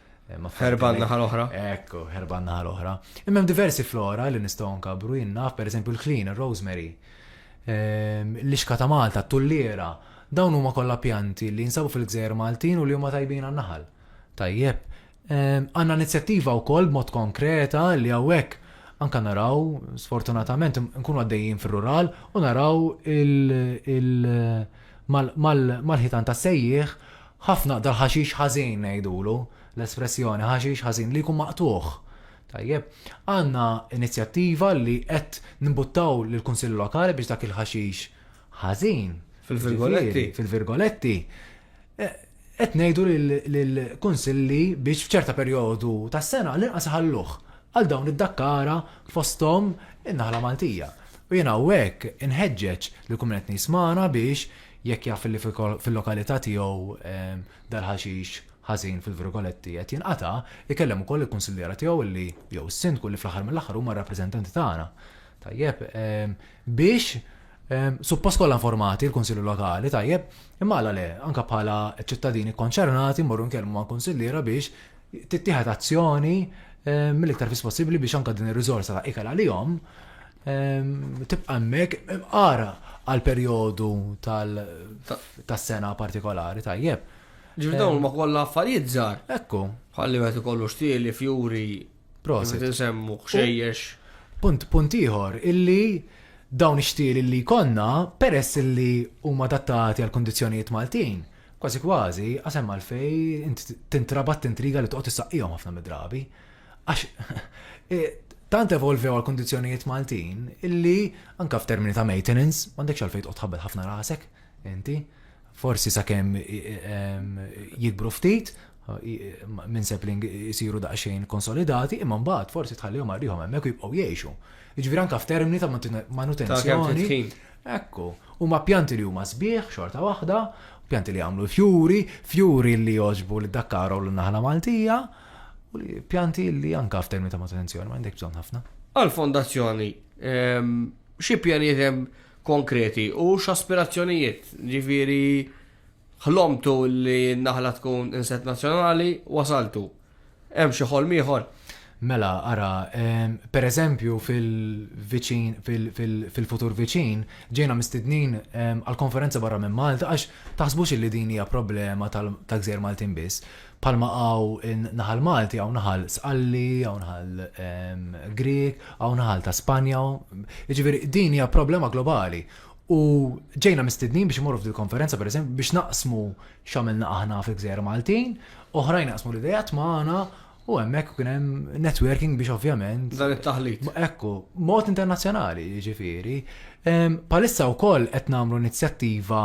Herba naħa l-oħra. Ekku, herba naħa l-oħra. Imma diversi flora li nistgħu nkabru jinnaf, per eżempju l-klin, il-rosemary, ehm, l-ixka ta' Malta, t-tullira, dawn huma kollha pjanti li jinsabu fil-gżejjer Maltin u li huma tajbin għan-naħal. Tajjeb, ehm, għandna inizjattiva wkoll b'mod konkreta li hawnhekk anka naraw, sfortunatament, nkunu għaddejjin fil-rural u naraw il- mal-ħitan ta' sejjieħ Ħafna dal-ħaxix ħażin ngħidulu, l-espressjoni ħaxix ħażin li jkun maqtugħ. Tajjeb, għandna inizjattiva li qed nimbuttaw lill-Kunsill Lokali biex dak il-ħaxix ħażin, jiġifieri, fil-virgoletti, qed ngħidu lill-Kunsilli biex f'ċerta perjodu tas-sena għall-inqas iħalluh għal dawn id-dakkara fosthom in-naħla Maltija. U jien hawnhekk inħeġġeġ lill-kumment nies magħna biex jekk jaf li fil-lokalità tiegħu dal-ħaxix ħażin fil-virgoletti qed jinqata', ikellem ukoll il-kunsilliera tiegħu li jew is-sindku li fl-aħħar mill-aħħar huma r-rappreżentanti tagħna. Tajjeb, biex suppost kollha informati l-Kunsilli Lokali, tajjeb, imma għala le, anke bħala ċittadini kkonċernati mmorru nkellmu mal-kunsilliera biex tittieħed azzjoni mill-iktar fis possibbli biex anke din ir-riżorsa ta' ikel għalihom Tibqa' hemmhekk imqara għal perjodu tas-sena partikolari tajjeb. Ġifieri dawn ma kollha affarijiet żgħar. Ekku. Ħalli wieħed ikollu xtieli, fjuri, prosit insemmu xejjex. Punt punt ieħor illi dawn ix-xtieli li jkollna peress illi huma adattati għal kundizzjonijiet Maltin, kważi kważi għasem għalfej tintrabat tintriga li toqgħod issaqqihom ħafna mid-drabi. Għax eh, tant evolvew għal kondizjonijiet Maltin illi anka f'termini ta' maintenance m'għandekx għalfejn tqgħod tħabbel ħafna rasek inti. Forsi sakemm jikbru ftit minn sapling isiru daqsxejn konsolidati imma mbagħad forsi tħallihom għarrihom hemmhekk jibqgħu jgħixu. Jiġifieri anka f'termini ta' manutenzjoni. Ekku, huma pjanti li huma sbieħ xorta waħda, pjanti li jagħmlu fjuri, fjuri li joġbu li dakkaru l-naħla Maltija, U li pjanti li anka f'termini ta' manutenzjoni ma għandek bżonn ħafna. Għal-fondazzjoni, ehm, xi pjanijiet hemm konkreti u x'aspirazzjonijiet, ġifieri ħlomtu li n-naħla tkun inset nazzjonali wasaltu. Hemm xi ħolm ieħor? Mela, ara, ehm, per eżempju fil-viċin, fil-futur viċin, ġejna mistednin ehm, għal-konferenza barra minn Malta, għax taħsbux li din hija problema tal-gżer Maltin biss. Bħalma hawn naħal Malti, hawn naħal Sqalli, hawn naħal ehm, Grieg, hawn naħal ta' Spanja. Jiġifieri din hija problema globali. U ġejna mistednin biex imorru f'dil konferenza per eżempju biex naqsmu x'għamilna aħna fil-gżejjer Maltin, oħrajn naqsmu l-idejat magħna u hemmhekk kien hemm networking biex ovvjament. Dan it-taħlit. Ekku, mod internazzjonali, jiġifieri. Ehm, palissa wkoll qed nagħmlu inizjattiva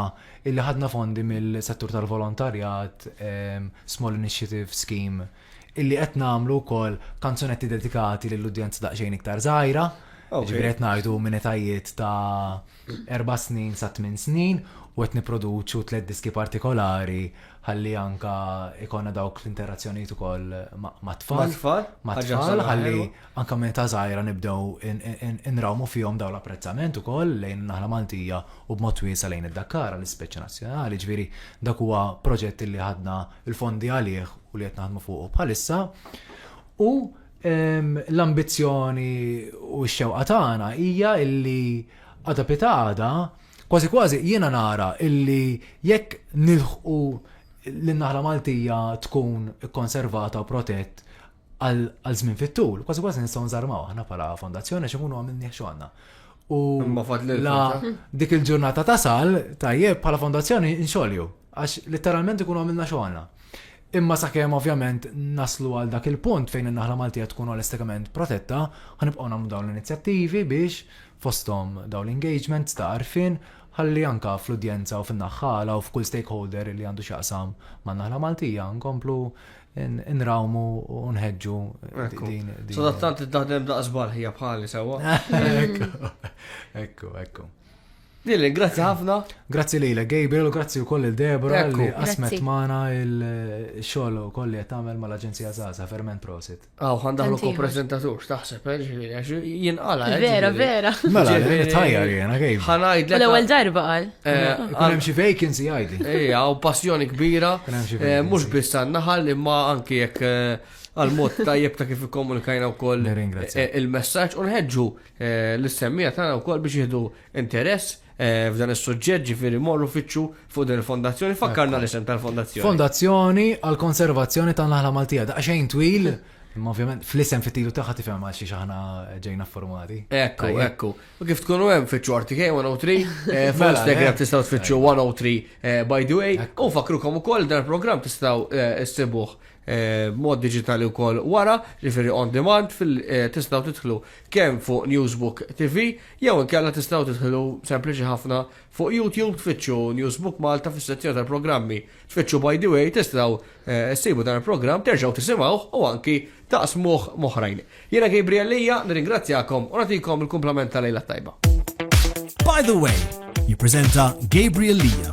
Illi ħadna fondi mill-settur tal-volontarjat, Small Initiative Scheme, illi qed nagħmlu wkoll kanzunetti dedikati lil udjenza daqsxejn iktar żgħira, ġifieri qed ngħidu minn etajiet ta' erba' snin sa tmien snin u qed nipproduċu tliet diski partikolari ħalli anke jkollna dawk l-interazzjonijiet ukoll mat-tfal. Mat-tfal? Mat-tfal ħalli anke minn età żgħira nibdew inrawmu fihom dawn l-apprezzament ukoll lejn in-naħla Maltija u b'mod wiesa' lejn id-Dakkara, l-ispeċi nazzjonali. Ġifieri dak huwa proġett illi ħadna l-fondi għalih u li qed naħdmu fuqu bħalissa. U l-ambizzjoni u x-xewqa tagħna hija illi għada pitgħada kważi kważi jiena nara illi jekk nilħqu li n-naħla Maltija tkun ikkonservata u protett għal żmien fit-tul, kważi kważi nistgħu nżarmaw aħna bħala fondazzjoni għax ikunu għamilni xogħolna. U la dik il-ġurnata tasal, tajjeb bħala fondazzjoni nxolju, għax letteralment ikunu għamilna xogħolna. Imma sakemm ovvjament naslu għal dak il-punt fejn in-naħla Maltija tkun għal-estekament protetta, ħanibqgħu nagħmlu dawn l-inizjattivi biex fosthom dawn l-engagements ta' arfin ħalli anka fl-udjenza u fin-naħħala u f'kull stakeholder li għandu xaqsam man naħla Maltija nkomplu nrawmu u nħedġu din. Sadattant id-daħdem daqs barħija bħali sewa. Ekku, ekku. Lili, grazzi ħafna. Grazzi lila, Gabriel, grazzi u koll il-Debra li asmet maħna il-xol u koll li jtamel ma l-Aġenzija Zaza, ferment prosit. Aw, għandahlu ko prezentatur, taħseb, eh, ġiviri, għax jinqala. Eh, vera, vera. Mela, tajjar jena, Gabriel. Għanajd l-ewel darba għal. Eh, għalem xi vacancy għajdi. Ija, u passjoni kbira, eh, mhux biss għan-naħal imma anki jekk eh, għal-mod tajjeb ta' kif ikkomunikajna wkoll il-messaġġ u nħeġġu l-semmija tagħna wkoll biex jieħdu interess f'dan is-suġġett ġifieri morru fiċċu fuq din il-fondazzjoni. Fakkarna l-isem tal-fondazzjoni. Fondazzjoni għal-konservazzjoni tan-naħla Maltija. Daqsxejn twil Imma ovvjament fl-isem fit-tilu tagħha tifhem għal xi aħna ġejna formati. Ekku, ekku. U kif tkunu hemm fitxu RTK 103, eh, fuq Instagram tistgħu tfittxu 103 eh, by the way, u fakrukom ukoll dan il-programm tistgħu eh, issibuh mod digitali wkoll wara, ġifieri on demand fil tistgħu tidħlu kemm fuq Newsbook TV jew inkella tistgħu tidħlu sempliċi ħafna fuq YouTube tfittxu Newsbook Malta fis-sezzjoni tal-programmi. Tfittxu by the way tistgħu ssibu dan il-programm terġgħu tisimgħuh u anki taqsmuh moħrajn. Jiena Gabriel Lia, nirringrazzjakom u nagħtikom il-kumplament ta' lejla t-tajba. By the way, jippreżenta Gabriel Lia.